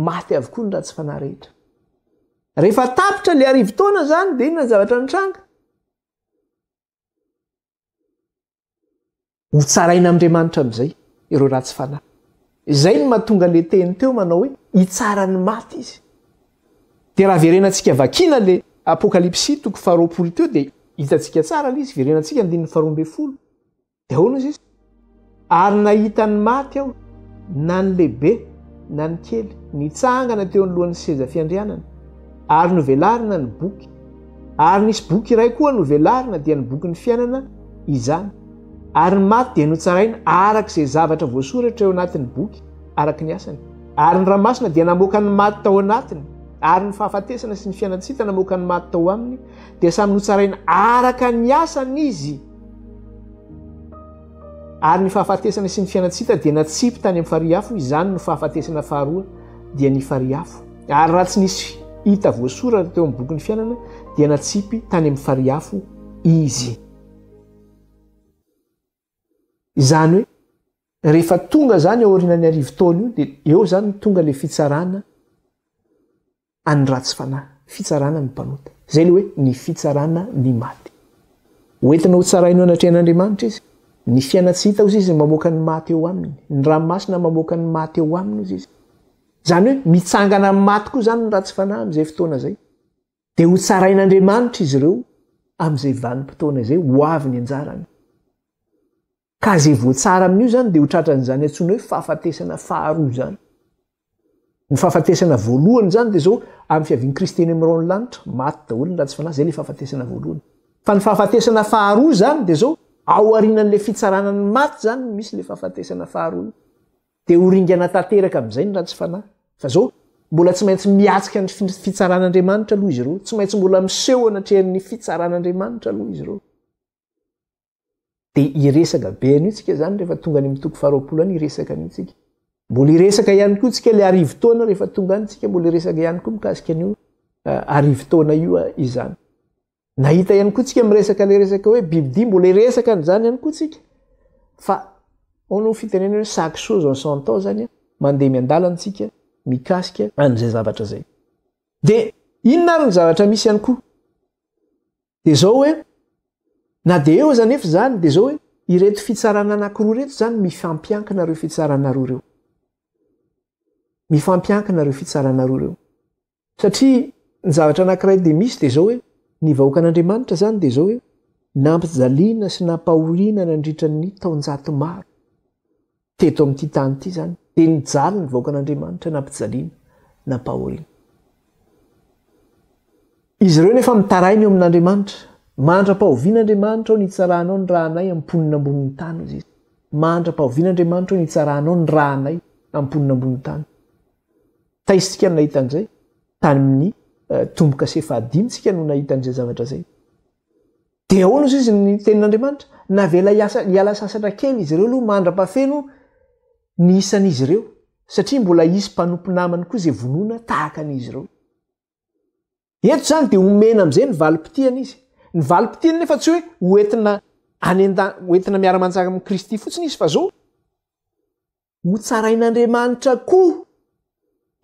maty avokoa ny ratsy fanahy rehetra. Rehefa tapitra ilay arivo taona izany dia inona ny zavatra mitranga? Ho tsarain' Andriamanitra amin'izay ireo ratsy fanahy. Izay no mahatonga le teny teo manao hoe hitsara ny maty izy. Dia raha verenantsika vakiana le Apokalypsy toko faharoapolo teo dia hitantsika tsara le izy, verenantsika andininy faharoa ambin'ny folo. Dia ahoana izy? Ary nahita ny maty aho, na ny lehibe na ny kely, nitsangana teo anoloan'ny seza fiandrianana, ary novelarina ny boky. Ary nisy boky iray koa novelarina, dia ny bokin'ny fiainana izany. Ary ny maty dia notsaraina araka izay zavatra voasoratra eo anatin'ny boky, araka ny asany. Ary ny Ra Masina dia namoaka ny maty tao anatiny, ary ny fahafatesana sy ny fianan-tsita namoaka ny maty tao aminy, dia samy notsaraina araka ny asany izy. Ary ny fahafatesana sy ny fianan-tsita dia natsipy tany amin'ny farihy afo, izany no fahafatesana faharoa, dia ny farihy afo. Ary raha tsy nisy hita voasoratra teo amin'ny bokin'ny fiainana, dia natsipy tany amin'ny farihy afo izy. Izany hoe, rehefa tonga izany aorianan'ny arivo taona io, dia eo izany no tonga ilay fitsarana an'ny ratsy fanahy, fitsarana ny mpanota. Izay ilay hoe ny fitsarana ny maty. Hoentina hotsaraina eo anatrehan'Andriamanitra izy. Ny fiaina tsy hita hozy izy mamoaka ny maty eo aminy. Ny ranomasina mamoaka ny maty eo aminy hozy izy. Izany hoe mitsangana amin'ny maty koa izany ny ratsy fanahy amin'izay fotoana izay. Dia hotsarain'Andriamanitra izy ireo amin'izay vanim-potoana izay ho avy ny anjarany. Ka izay voatsara amin'io izany dia ho tratran'izany antsoina hoe fahafatesana faharoa izany. Ny fahafatesana voalohany izany dia izao amin'ny fiavian'i Kristy eny amin'ny raon'ny lanitra, maty daholo ny ratsy fanahy, izay ilay fahafatesana voalohany. Fa ny fahafatesana faharoa izany dia izao, ao aorianan'ilay fitsarana ny maty izany no misy ilay fahafatesana faharoa. Dia ho ringana tanteraka amin'izay ny ratsy fanahy. Fa izao, mbola tsy maintsy miatrika ny fitsaran'Andriamanitra aloha izy ireo. Tsy maintsy mbola miseho anatrehan'ny fitsaran'Andriamanitra aloha izy ireo. Dia hiresaka be an'io tsika izany rehefa tonga any amin'ny toko faharoapolo any hiresaka an'io tsika. Mbola hiresaka ihany koa tsika ilay arivo taona rehefa tonga any tsika mbola hiresaka ihany koa mikasika an'io eh, arivo taona io eh, izany. Nahita ihany koa tsika miresaka le resaka hoe bibidia mbola iresaka an'izany ihany koa tsika fa ao no fitenena hoe sac chose en son temps zany mandeha miandalana tsika mikasika an'izay zavatra zay de inona ary ny zavatra misy ihany koa de zao hoe na de eo aza nefa zany de zao hoe ireto fitsarana anakiroa reto zany mifampiankina reo fitsaranaroa reo mifampiankina reo fitsaranaroa reo Satria ny zavatra anankiray dia misy dia izao hoe ny vahoakan'Andriamanitra izany dia izao hoe nampijaliana sy nampahoriana nandritra ny taonjato maro teto amin'ity tany ity izany dia nijaly ny vahoakan'Andriamanitra nampijaliana nampahoriana izy ireo nefa mitaraina eo amin'Andriamanitra mandra-pahoviana Andriamanitra ao nitsaranao ny rahanay amponina ambonin'ny tany izy mandra-pahoviana Andriamanitra ao nitsaranao ny rahanay amponina ambonin'ny tany Taisika no nahita an'izay, tany amin'ny eh, tombo-kase fahadimy tsika no nahita an'izay zavatra izay. Dia ahoana ozy izy ny tenin'Andriamanitra? Navela hiala sasatra kely izy ireo aloha mandra-pahafeno ny isan'izy ireo, satria mbola hisy mpanompo namany koa izay vonoina tahaka an'izy ireo. Eto izany dia omena amin'izay ny valim-pitiany izy. Ny valim-pitiany nefa tsy hoe ho entina any an-tany, ho entina miara-manjaka amin'i Kristy fotsiny izy fa zao, ho tsarain'Andriamanitra koa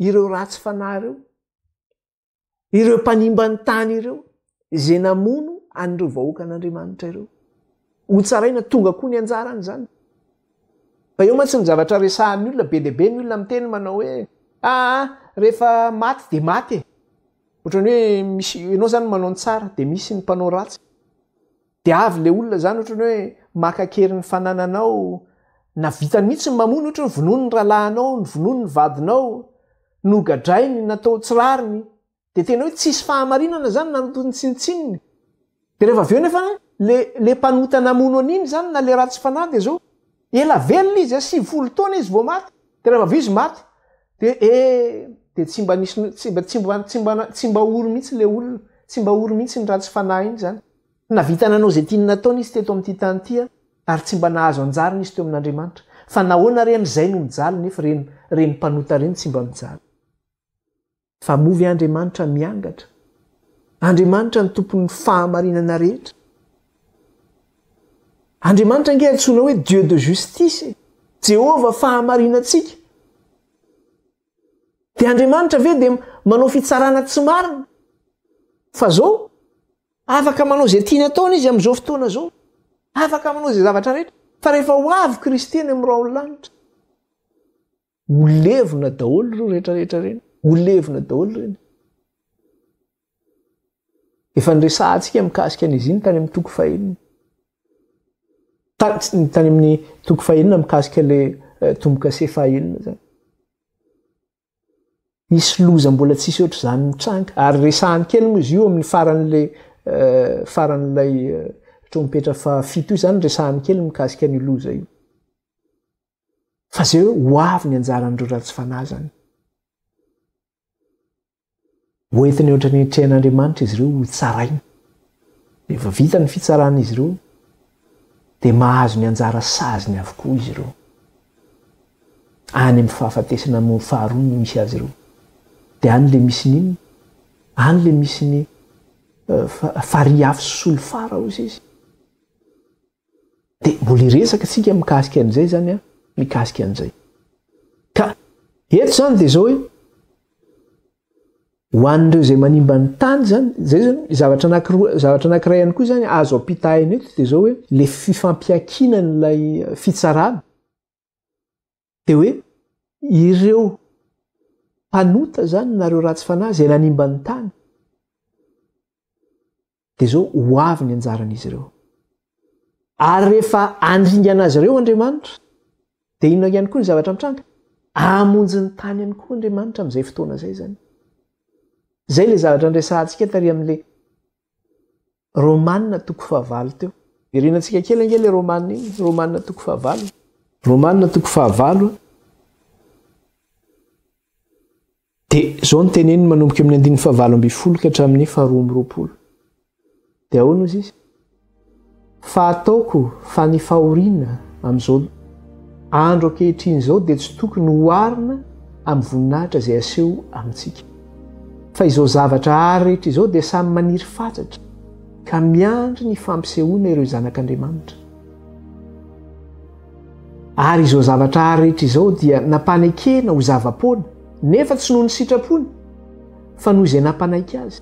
ireo ratsy fanahy ireo, ireo mpanimba ny tany ireo, izay namono an'ireo vahoakan'Andriamanitra ireo. Ho tsaraina tonga koa ny anjarany izany. Fa eo mantsy ny zavatra resahan'ny olona, be dia be ny olona miteny manao hoe, aa rehefa maty dia maty e! Ohatran'ny hoe misy, ianao izany manao ny tsara dia misy ny mpanao ratsy. Dia avy ilay olona izany ohatran'ny hoe maka an-kery ny fanananao, na vitany mihitsy ny mamono, ohatra hoe vonoiny ny rahalahinao, vonoiny ny vadinao, nogadrainy, natao tsy rariny, Dia tena hoe tsisy fahamarinana zany na ny tsinotsinony. Dia rehefa avy eo nefa le le mpanota namono an'iny zany na le ratsy fanahy dia zao, ela velona izy a, sivifolo taona izy vao maty, dia rehefa avy eo izy maty, dia eh dia tsy mba nisy tsy mba tsy mba tsy mba tsy mba ory mihitsy le olona, tsy mba ory mihitsy iny ratsy fanahy iny zany. Nahavita nanao izay tiany nataony izy teto amin'ity tany ity a, ary tsy mba nahazo anjarany izy teo amin'Andriamanitra. Fa nahoana re an' izay no mijaly nefa ireny ireny mpanota ireny tsy mba mijaly. Fa moa ve Andriamanitra miangatra? Andriamanitra ny Tompon'ny fahamarinana rehetra? Andriamanitra ange antsoina hoe Dieu de justice e! Jehovah fahamarinantsika. Dia Andriamanitra ve dia manao fitsarana tsy marina? Fa zao, afaka manao izay tiany ataony izy amin'izao fotoana izao. Afaka manao izay zavatra rehetra. Fa rehefa ho avy Kristy any amin'ny rahon'ny lanitra, ho levona daholo ireo rehetrarehetra ireny ho levona daholo ireny efa nyresahantsika mikasika an' izy iny tany amin'ny toko fahenina tany tany amin'ny toko fahenina mikasika le eh, tomboka se fahenina zany isy loza mbola tsisy oatra izany mitranga ary resahany kely moa izy io amin'ny faran'la eh, faran'ilay eh, trompetra fahafito io zany resahany kely mikasika ny loza io Fa zay hoe ho avy ny anjaran'ireo ratsy fanahy zany. Hoentiny ohatra ny trehan'Andriamanitra izy ireo ho tsaraina. Rehefa vita ny fitsarana izy ireo, dia mahazo ny anjara saziny avokoa izy ireo. Any amin'ny fahafatesana amin'ny faharoa no misy azy ireo. Dia any le misy nino, any le misy ny eh, fariafy solifara hozy izy. Dia mbola hiresaka isika mikasika an'izay izany an, mikasika an'izay. Ka eto izany dia izao hoe ho an'ireo izay manimba ny tany izany, izay izany zavatra anankiroa, zavatra anankiray ihany koa izany azo ampitahaina eto dia izao hoe le fifampiankinan'ilay fitsarana dia hoe ireo mpanota izany na ireo ratsy fanahy izay nanimba ny tany dia izao ho avy ny anjaran'izy ireo ary rehefa andringana azy ireo andriamanitra dia inona ihany koa ny zavatra mitranga amonjy ny tany ihany koa andriamanitra amin'izay fotoana izay zany zay le zavatra nyresahantsika tary amin'le Romanina toko fahavalo teo. Irinantsika kely ange le romanina iny, romanina toko fahavalo. Romanina toko fahavalo dia zao ny teneniny manomboka amin'ny andininy fahavalo ambin'ny folo ka hatramin'ny faharoa amby roapolo. Dia ahoana ozy izy? Fa ataoko fa ny fahoriana amin'izao andro ankehitriny izao dia tsy tokony ho oharina amin'ny voninahitra izay aseho amintsika. Fa izao zavatra àry rehetra izao dia samy maniry fatratra ka miandry ny fampisehoana ireo zanak'Andriamanitra. Ary izao zavatra àry rehetra izao dia nampanekena ho zava-poana, nefa tsy noho ny sitrapony, fa noho izay nampanaiky azy.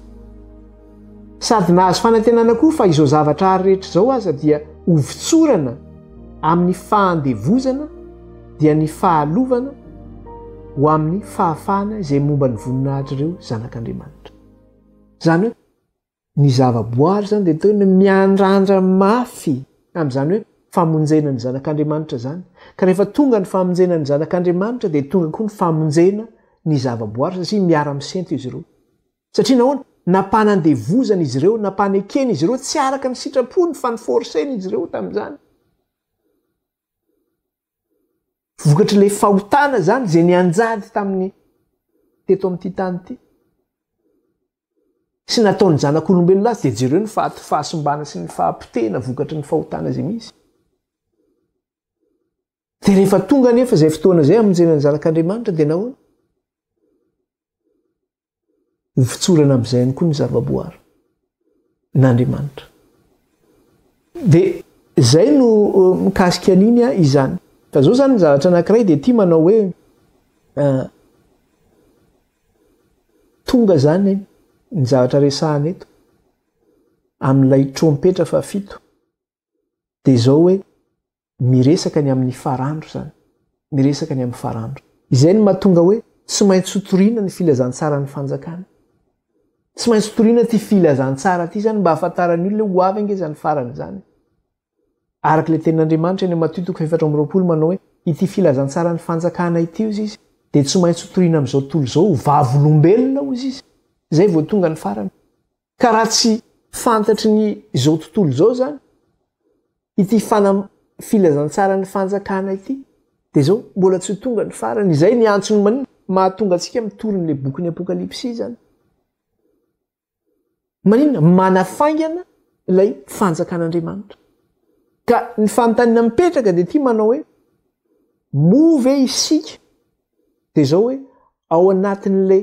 Sady nahazo fanantenana koa fa izao zavatra ary rehetra izao aza dia ho votsorana amin'ny fahandevozana dia ny fahalovana ho amin'ny fahafahana izay momba ny voninahitr'ireo zanak'Andriamanitra. Izany hoe ny zava-boary izany dia toy ny miandrandra mafy amin'izany hoe famonjena ny zanak'Andriamanitra izany. Ka rehefa tonga ny famonjena ny zanak'Andriamanitra dia tonga koa ny famonjena ny zava-boary satria miara-misento izy ireo. Satria nahoana? Napahana andevozana izy ireo, napahana ekena izy ireo, tsy araka ny sitrapony fa ni-forcer-na izy ireo tamin'izany. Vokatr'ilay fahotana izany izay nianjady tamin'ny teto amin'ity tany ity. Sy nataon'ny zanak'olombelona azy dia jereo ny faha fahasimbana sy ny fahapotehina vokatry ny fahotana izay misy. Dia rehefa tonga anefa izay fotoana izay hamonjena ny zanak'Andriamanitra dia nahoana? Ho fitsorana amin'izay ihany koa ny zavaboary n'Andriamanitra. Dia izay no mikasika an'iny izany. Fa izao izany ny zavatra anankiray dia ity manao hoe tonga izany ny zavatra resahana eto amin'ilay trompetra fahafito. dia izao hoe miresaka ny amin'ny farandro izany, miresaka ny amin'ny farandro. Izay no mahatonga hoe tsy maintsy hotorina ny filazantsaran'ny fanjakana. Tsy maintsy hotorina ity filazantsara ity izany mba hahafantaran'ny olona hoe ho avy ange izany farany izany. Araka ilay tenin'Andriamanitra eny Matio toko efatra amby roapolo manao hoe ity filazantsaran'ny fanjakana ity hozy izy dia tsy maintsy hotorina amin'izao tontolo izao ho vavolombelona hozy izy. Izay vao tonga ny farany. Ka raha tsy fantatry ny izao tontolo izao izany ity fanam, filazantsaran'ny fanjakana ity dia izao mbola tsy tonga ny farany, izay ny antsony man mahatonga antsika mitory an'ilay bokin'ny apokalypsy izany. Maninona? Manafaingana ilay fanjakan'Andriamanitra. Ka ny fanontaniana mipetraka dia ity manao hoe, moa ve isika dia izao hoe ao anatin'ilay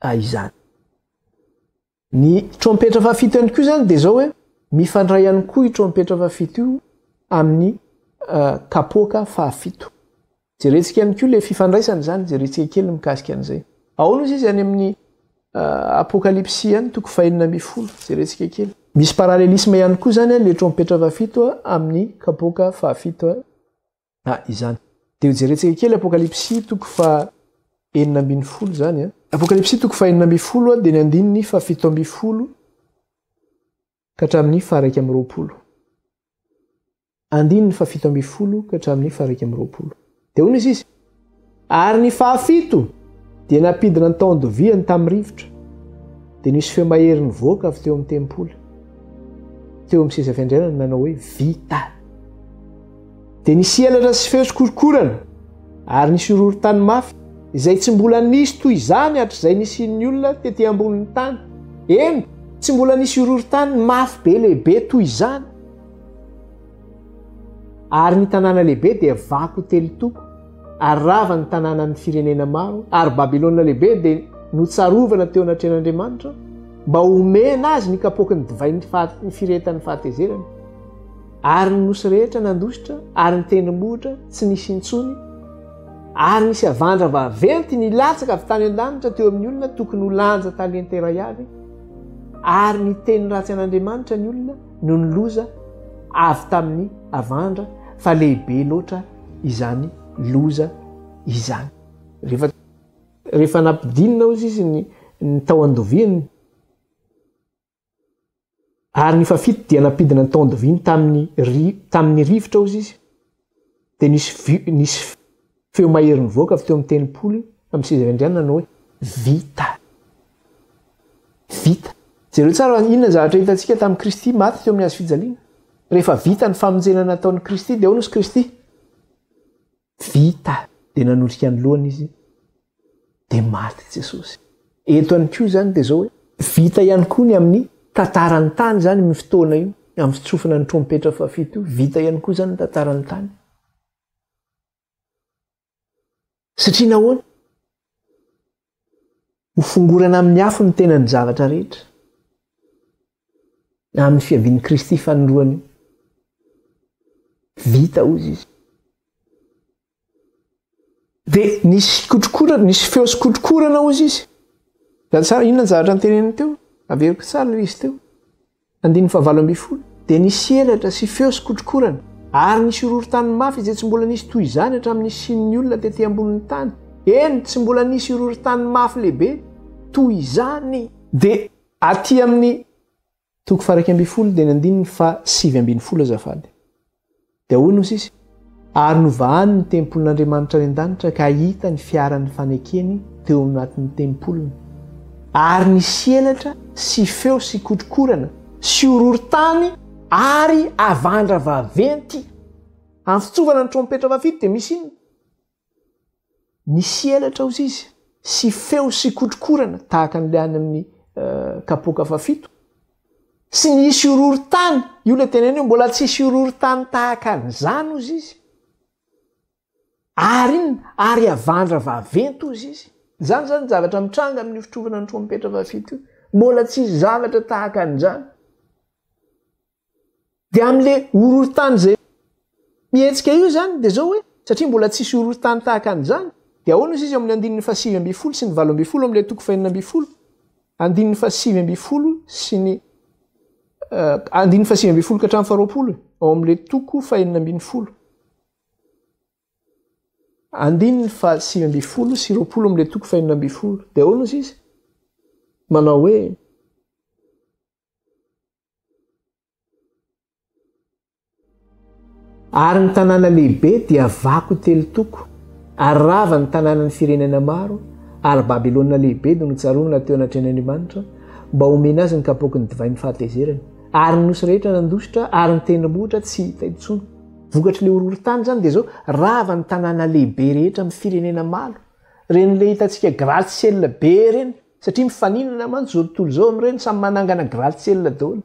a izany. Ny trompetra fahafito ihany koa izany dia izao hoe mifandray ihany koa io trompetra fahafito io amin'ny kapoaka fahafito. Jerentsika ihany koa ilay fifandraisana izany, jerentsika kely mikasika an'izay. Ao nosy izy any amin'ny apokalypsy any toko fahenina ambin'ny folo, jerentsika kely. Misy parallelisme ihany koa izany ilay trompetra fahafito amin'ny kapoaka fahafito Ah, izany. Dia hojerentsika kely Apokalypsy toko faha enina ambin'ny folo izany an. Apokalypsy toko faha enina ambin'ny folo dia ny andininy faha fito ambin'ny folo ka hatramin'ny faha iraika amby roapolo. Andininy faha fito ambin'ny folo ka hatramin'ny faha iraika amby roapolo. Dia hoy ny sisa, Ary ny fahafito dia nampidina ny taon-doviany tamin'ny rivotra, dia nisy feo mahery nivoaka avy teo amin'ny tempoly, teo amin'ny seza fiandrianana nanao hoe vita. Dia nisy elatra sy feo sy korokorana, ary nisy horohorontany mafy, izay tsy mbola nisy toy izany hatrizay nisian'ny olona tety ambonin'ny tany, eny, tsy mbola nisy horohorontany mafy be lehibe toy izany. Ary ny tanàna lehibe dia vaky telo toko, ary rava ny tanànan'ny firenena maro, ary Babylona Lehibe dia notsarovana teo anatrehan'Andriamanitra, mba homena azy ny kapoaky ny divain'ny faha, firehetan'ny fahatezerany. Ary ny nosy rehetra nandositra, ary ny tendrombohitra tsy nisy intsony, ary nisy havandra vaventy nilatsaka avy tany an-danitra teo amin'ny olona tokony ho lanja talenta iray avy, ary niteny ratsy an'Andriamanitra ny olona, noho ny loza avy tamin'ny havandra fa lehibe loatra izany loza izany. Rehefa rehefa nampidinina hozy izy ny ny tao andoviany ary ny fafito dia nampidina ny tao andoviany tamin'ny tamin'ny rivotra hozy izy. Dia nisy, nisy feo mahery nivoaka avy teo amin'ny tempoly, amin'ny seza fiandrianana nanao hoe, Vita. Vita. Jereo tsara, inona ny zavatra hitantsika tamin'i Kristy maty teo amin'ny hazo fijaliana? Rehefa vita ny famonjena nataon'i Kristy, dia ahoana hozy Kristy? Vita. Dia nanosika ny lohany Izy. dia maty Jesosy. Eto ihany koa izany dia izao hoe, vita ihany koa ny amin'ny tantaran'ny tany izany amin'ny fotoana io, amin'ny fitsofana ny trompetra fahafito io, vita ihany koa izany ny tantaran'ny tany. Satria nahoana? Ho fongorana amin'ny afo ny tenan'ny zavatra rehetra na amin'ny fiavian'i Kristy fanindroany. Vita hoy izy. Dia nisy kotrokorana, nisy feo sy kotrokorana hozy izy. Zany tsara, inona ny zavatra niteneniny teo? Averiko tsara ilay izy teo. Andininy fahavalo ambin'ny folo. Dia nisy elatra sy feo sy kotrokorana, ary nisy horohorontany mafy izay tsy mbola nisy toy izany hatramin'ny nisian'ny olona tety ambonin'ny tany. Eny, tsy mbola nisy horohorontany mafy lehibe toy izany. Dia aty amin'ny Toko faha iraika ambin'ny folo teny andininy faha sivy ambin'ny folo azafady. Dia hoy ny sisa, Ary novahany ny tempolin'Andriamanitra any an-danitra ka hita ny fiaran'ny fanekeny teo anatin'ny tempoliny. Ary nisy elatra sy feo sy kotrokorana sy horohorontany ary havandra vaventy. Amin'ny fitsovana ny trompetra vaventy dia misy inona? Nisy elatra hozy izy sy feo sy kotrokorana tahaka an'ilay any amin'ny kapoaka fahafito. Tsy nisy horohorontany, io ilay teneniny hoe mbola tsy hisy horohorontany tahaka an'izany hozy izy. Ary inona? Ary havandra vaventy hozy izy. Izany izany ny zavatra mitranga amin'io fitrovana ny trompetra fahafito io. Mbola tsy hisy zavatra tahaka an'izany. Dia amin'ilay horohoron-tany izay mihetsika io izany dia izao hoe, satria mbola tsisy horohoron-tany tahaka an'izany, dia ahoana hozy izy ao amin'ny andininy fahasivy ambin'ny folo sy ny valo ambin'ny folo ao amin'ilay toko fahenina ambin'ny folo? Andininy fahasivy ambin'ny folo sy ny andininy fahasivy ambin'ny folo ka hatramin'ny faharoapolo e, ao amin'ilay toko fahenina ambin'ny folo. Andininy fahasivy ambin'ny folo sy roapolo amin'ilay toko fahenina ambin'ny folo. Dia ahoana hozy izy? Manao hoe, Ary ny tanàna lehibe dia vaky ho telo toko, ary rava ny tanànan'ny firenena maro, ary Babylona Lehibe dia notsarovina teo anatrehan'Andriamanitra, mba homena azy ny kapoaky ny divain'ny fahatezerany. Ary ny nosy rehetra nandositra, ary ny tendrombohitra tsy hita intsony. Vokatr'ilay horohorontany izany dia izao, rava ny tanàna lehibe rehetra amin'ny firenena maro, ireny ilay hitantsika gratte-ciel be ireny. Satria mifaninana mantsy izao tontolo izao amin'ireny, samy manangana gratte-ciel daholo.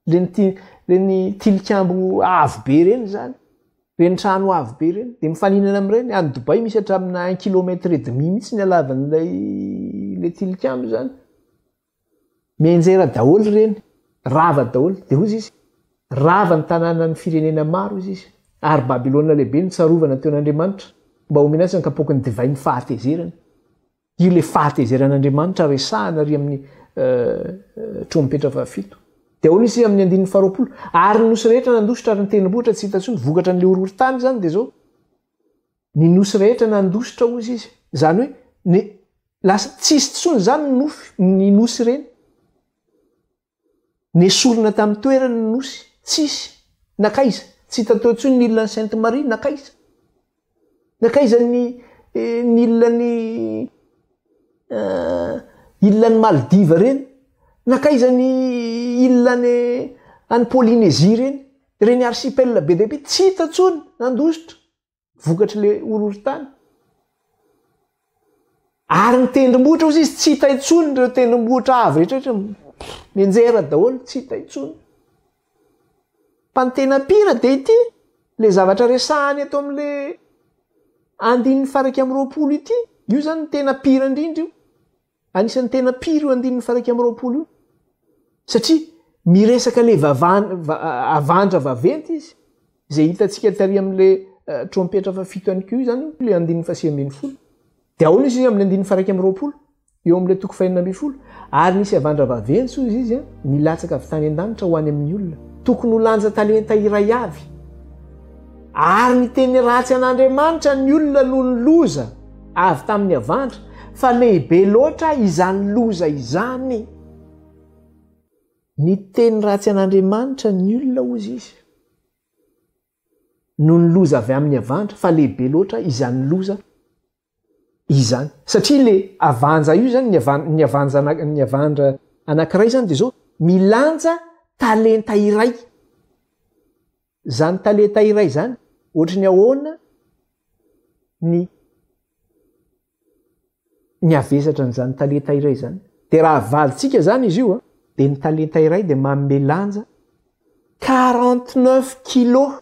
Ireny ti- ireny tilikambo avo be ireny izany, ireny trano avo be ireny, dia mifaninana amin'ireny. Any Dubaï misy hatramina un kilomètre et demi mihitsy ny halavan'ilay ilay tilikambo izany. Mianjera daholo ireny, rava daholo. Dia hoy izy izy, Rava ny tanànan'ny firenena maro, hoy izy izy, ary Babylona Lehibe notsarovana teo an'Andriamanitra, mba homena azy ny kapoaky ny divay ny fahatezerany. Io ilay fahatezeran'Andriamanitra resahana ary amin'ny trompetra fahafito. Dia ahoana isika amin'ny andininy faharoapolo? Ary ny nosy rehetra nandositra ary nitendrombohitra tsy hita intsony, vokatra an'ilay horohorontany izany dia izao. Ny nosy rehetra nandositra hozy izy. Izany hoe, ny lasa tsisy intsony izany ny nofy, ny nosy ireny. Nesorina tamin'ny toerany ny nosy. Tsisy. Nankaiza? Tsy hita teo intsony ny ilan'i Sainte Marie. Nankaiza? Nankaiza ny ny ilan'i eh, ilan'i Maldives ireny? Nankaiza ny ilan'i any Polynésie ireny? Ireny archipel be dia be. Tsy hita intsony. Nandositra. vokatry le horohorontany ary ny tendrombohitra ozy izy tsy hita intsony ireo tendrombohitra avy rehetrarehetra menjera daholo tsy hita intsony fa ny tena pira de ity le zavatra resahany eto am'le andininy faraika am'roapolo ity io zany ny tena pira indrindra io Anisan'ny tena pire io andininy faha iraika amby roapolo io satria miresaka le avandra vaventy izy izay hitantsika tary amin'le trompetra faha fito ihany koa izany le andininy faha sivy ambin'ny folo de ahoana izy amin'ny andininy faha iraika amby roapolo eo amin'le toko fahenina ambin'ny folo ary nisy avandra vaventy hoy izy izy a nilatsaka avy tany an-danitra ho any amin'ny olona tokony ho lanja talenta iray avy ary ny teny ratsy an'Andriamanitra ny olona noho ny loza Avy tamin'ny havandra, fa lehibe loatra izany loza izany. Niteny ratsy an'Andriamanitra ny olona, hozy izy, noho ny loza avy amin'ny havandra, fa lehibe loatra izany loza izany. Satria ilay havanja io izany, ny havanja, ny havandra anankiray izany dia izao, milanja talenta iray. Izany talenta iray izany, ohatry ny ahoana ny ny havesatra an'izany talenta iray izany? Dia raha havalitsika izany izy io, dia ny talenta iray dia manome lanja quarante neuf kilos.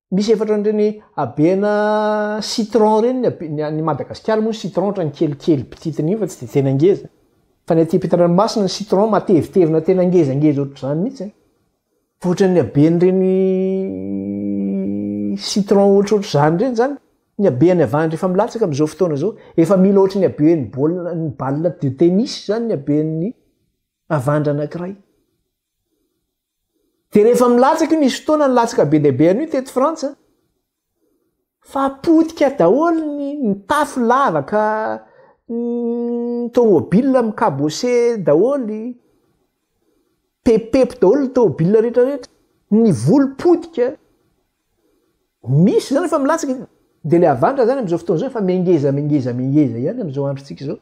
Misy efa ohatran'ireny habena citron ireny ny habe- ny any Madagasikara moa ny citron ohatran'ny kelikely bititin'iny fa tsy dia tena ngeza. Fa ny aty am-pitandranomasina ny citron matevitevina tena ngezangeza ohatr'izany mihitsy an! Fa ohatran'ny haben'ireny citron ohatrohatr'izany ireny izany ny habe any avahany rehefa milatsaka amin'izao fotoana izao. Efa mila ohatry ny haben'ny baolina ny balle de tennis izany ny haben'ny havandra anankiray. Dia rehefa milatsaka io, nisy fotoana nilatsaka be dia be an'io teto Frantsa, fa potika daholo ny ny tafo lavaka, ny tômôbila mikabose daholo, pepepy daholo ny tômôbila rehetra rehetra, ny voly potika, misy izany efa milatsaka, dia ilay avanitra izany amin'izao fotoana izao efa mengeza mengeza mengeza ihany amin'izao androntsika izao,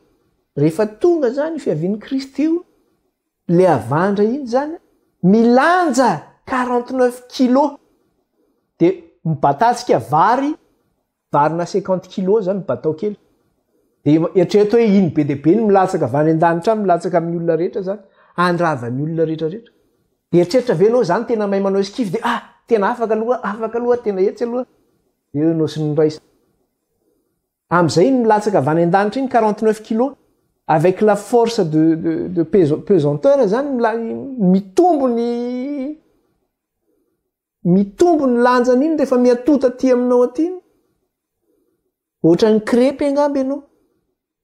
rehefa tonga izany fiavian'i Kristy io Le avandra iny zany milanja quarante neuf kilo de mibatatsika vary varina cinquante kilo zany mibatao kely de eritrereto hoe iny be de be ny milatsaka avy any an-danitra any milatsaka amin'ny olona rehetra zany andravan'ny olona rehetra rehetra eritreritra ve anao zany tena mahay manao esquif de ah tena afaka aloha afaka aloha tena etsy aloha eo ianao sy ny ray Amzay iny milatsaka avy any andanitra iny quarante neuf kilo avec la force de de de peso pesanteur zany milay mitombo ny mitombo ny lanjany iny rehefa miatoa taty aminao aty iny ohatran'ny crepy angamba ianao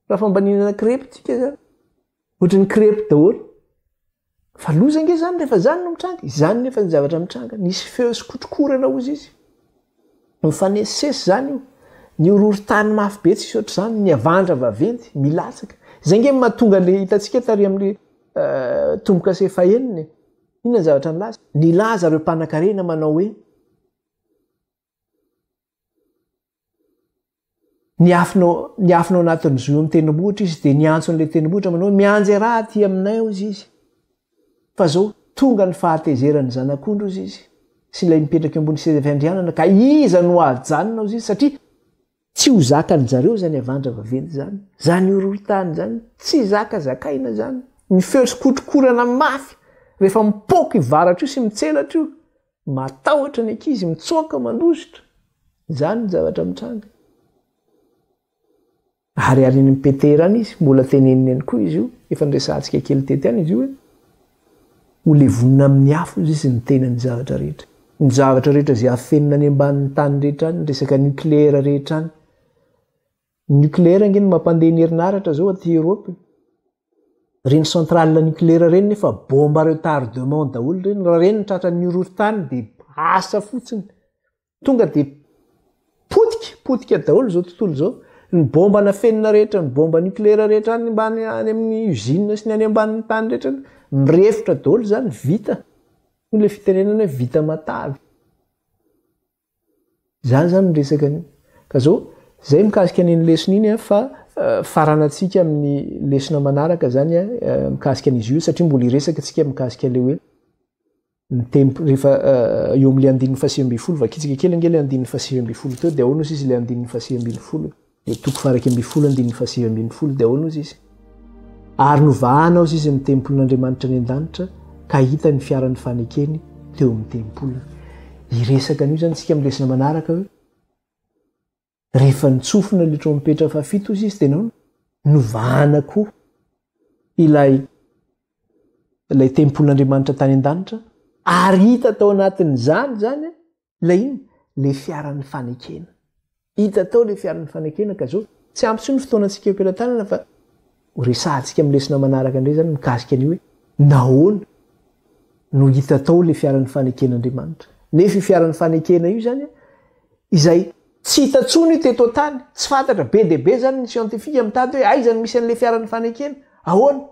raha fambaninana crepy tsika zany Ohatran'ny crêpe daholo. Fa loza ange zany rehefa zany no mitranga. Izany nefa ny zavatra mitranga. Nisy feo sy kotrokorana hozy izy. Mifanesisesy zany io. Ny horohorontany mafy be tsisy ohatr'izany, ny havandra vaventy milatsaka. Izay ange no mahatonga an'le hitantsika tary amin'le tombo-kase fahenina e. Inona ny zavatra nilaza? Nilaza ireo mpanankarena manao hoe. Niafina, niafina ao anatin'ny zohy amin'ny tendrombohitra izy dia niantso an'ilay tendrombohitra manao hoe mianjera aty aminay ao izy izy. Fa zao tonga ny fahatezeran'ny zanak'ondry izy izy sy ilay mipetraka eo ambony seza fiandrianana ka iza no hajanona ao izy satria Tsy ho zakan jareo zany avandra vaventy zany, zany horohotany zany, tsy zaka zakaina zany, ny feo tsy kotrokorana mafy rehefa mipoaka io varatra io sy mitselatra io, matahotra ny ankizy mitsoaka mandositra, zany ny zavatra mitranga. Ariarin'ny Peter any izy, mbola teneniny ihany koa izy io, efa niresahantsika kely tety any izy io e. Ho levonina amin'ny afo izay sy ny tenan'ny zavatra rehetra. Ny zavatra rehetra izay afenina any ambanin'ny tany rehetra any, ny resaka nucléaire rehetra any. Ny nucléaire ange no mampandeha ny herinaratra izao aty Europe e. Ireny centrale nucléaire ireny nefa bomba retardement daholo ireny. Raha ireny no tratran'ny horohoron-tany dia asa fotsiny. Tonga dia potika, potika daholo izao tontolo izao. Ny bomba nafenina rehetra, ny bomba nucléaire rehetra any ambany any amin'ny usine sy ny any ambanin'ny tany rehetra mirefotra daholo izany vita. Hoy ilay fitenenana hoe vita matavy. Izany izany ny resaka anio. Ka izao, izay mikasika an'iny lesona iny fa eh, faranantsika amin'ny lesona manaraka izany eh, mikasika an'izy io satria mbola hiresaka antsika mikasika ilay hoe ny tempo rehefa eh, eo amin'ilay andininy fahasivy ambin'ny folo vakitsika kely ange ilay andininy fahasivy ambin'ny folo teo dia ahoana ozy izy ilay andininy fahasivy ambin'ny folo ilay toko faharaika ambin'ny folo andininy fahasivy ambin'ny folo dia ahoana ozy izy ary novahana ozy izy ny tempolin'andriamanitra any an-danitra ka hita ny fiaran'ny fanekeny teo amin'ny tempoliny hiresaka an'io zany tsika amin'ny lesona manaraka hoe Rehefa nitsofina ilay trompetra fahafito hoy izy, dia nahoana? Novahana koa ilay ilay tempolin'Andriamanitra tany an-danitra ary hita tao anatin'izany izany ilay inona? Ilay fiaran'ny fanekena. Hita tao ilay fiaran'ny fanekena ka izao tsy ampy intsony ny fotoana antsika eo am-pelatanana fa Ho resahantsika amin'ny lesona manaraka indray izany mikasika an'io hoe nahoana no hita tao ilay fiaran'ny faneken'Andriamanitra. Nefa io fiaran'ny fanekena io izany, izay tsy hita intsony io teto an-tany, tsy fantatra, be dia be izany ny siantifika mitady hoe aiza no misy an'ilay fiaran'ny fanekena, ahoana?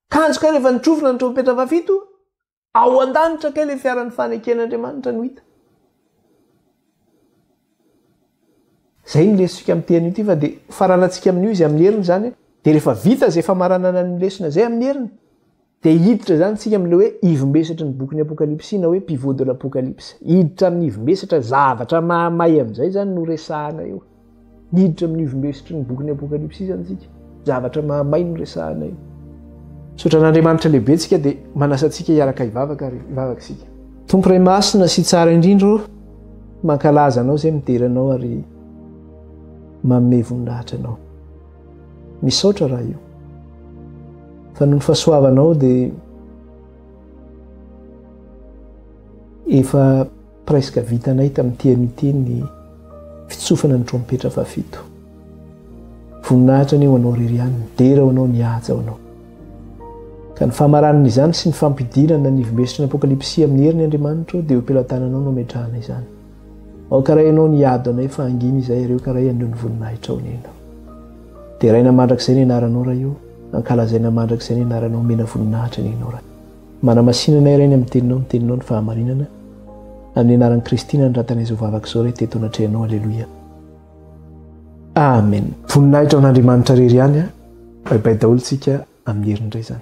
Tanjaka rehefa nitrofona ny trompetra fahafito? Ao an-danitra kay ilay fiaran'ny faneken'Andriamanitra no hita. Izay no lesontsika amin'ity anio ity fa dia hofaranantsika amin'io izy amin'ny heriny izany an. Dia rehefa vita izay famaranana ny lesona izay amin'ny heriny dia hiditra izany isika amin'ilay hoe ivom-besatry ny bokin'ny Apokalypsy na hoe pivot de l'Apocalypse. Hiditra amin'ny ivom-besatra, zavatra mahamay amin'izay izany no resahana eo. Miditra amin'ny ivon-besotry ny bokin'ny Apokalypsy izany isika. Zavatra mahamay no resahana eo. Misaotra an'Andriamanitra lehibe tsika dia manasa antsika hiaraka hivavaka ary hivavaka isika. Tompo Ray Masina sy Tsara indrindra ô, mankalaza Anao izay midera Anao ary manome voninahitra Anao. Misaotra Ray o, fa noho ny fahasoavanao dia efa. Presque vitanay tamin'ny TM ity ny fitsofana ny trompetra fahafito. Voninahitra anie ho anao Ririan, dera ho anao, nihaja ho anao. Ka ny famaranana izany sy ny fampidinana ny ivon-besotry ny Apokalypsy amin'ny heriny Andriamanitro dia eo am-pelatananao no ametrahana izany. Aoka ray ianao ny hiady ho anay fa hangina izay ary aoka ray haneo ny voninahitrao nena. Deraina mandrakizay ny anaranao ray o, ankalazaina mandrakizay ny anaranao, omena voninahitra ny ianao ray. Manamasinana irery ny amin'ny teninao ny teninao ny fahamarinana, amin'ny anaran'i Kristy nanoratanay izao vavaka izao re teto anatrehanao Aleloia Amen. Voninahitra ho an'Andriamanitra rery ihany a! Bay bay daholo tsika amin'ny heriny indray izany.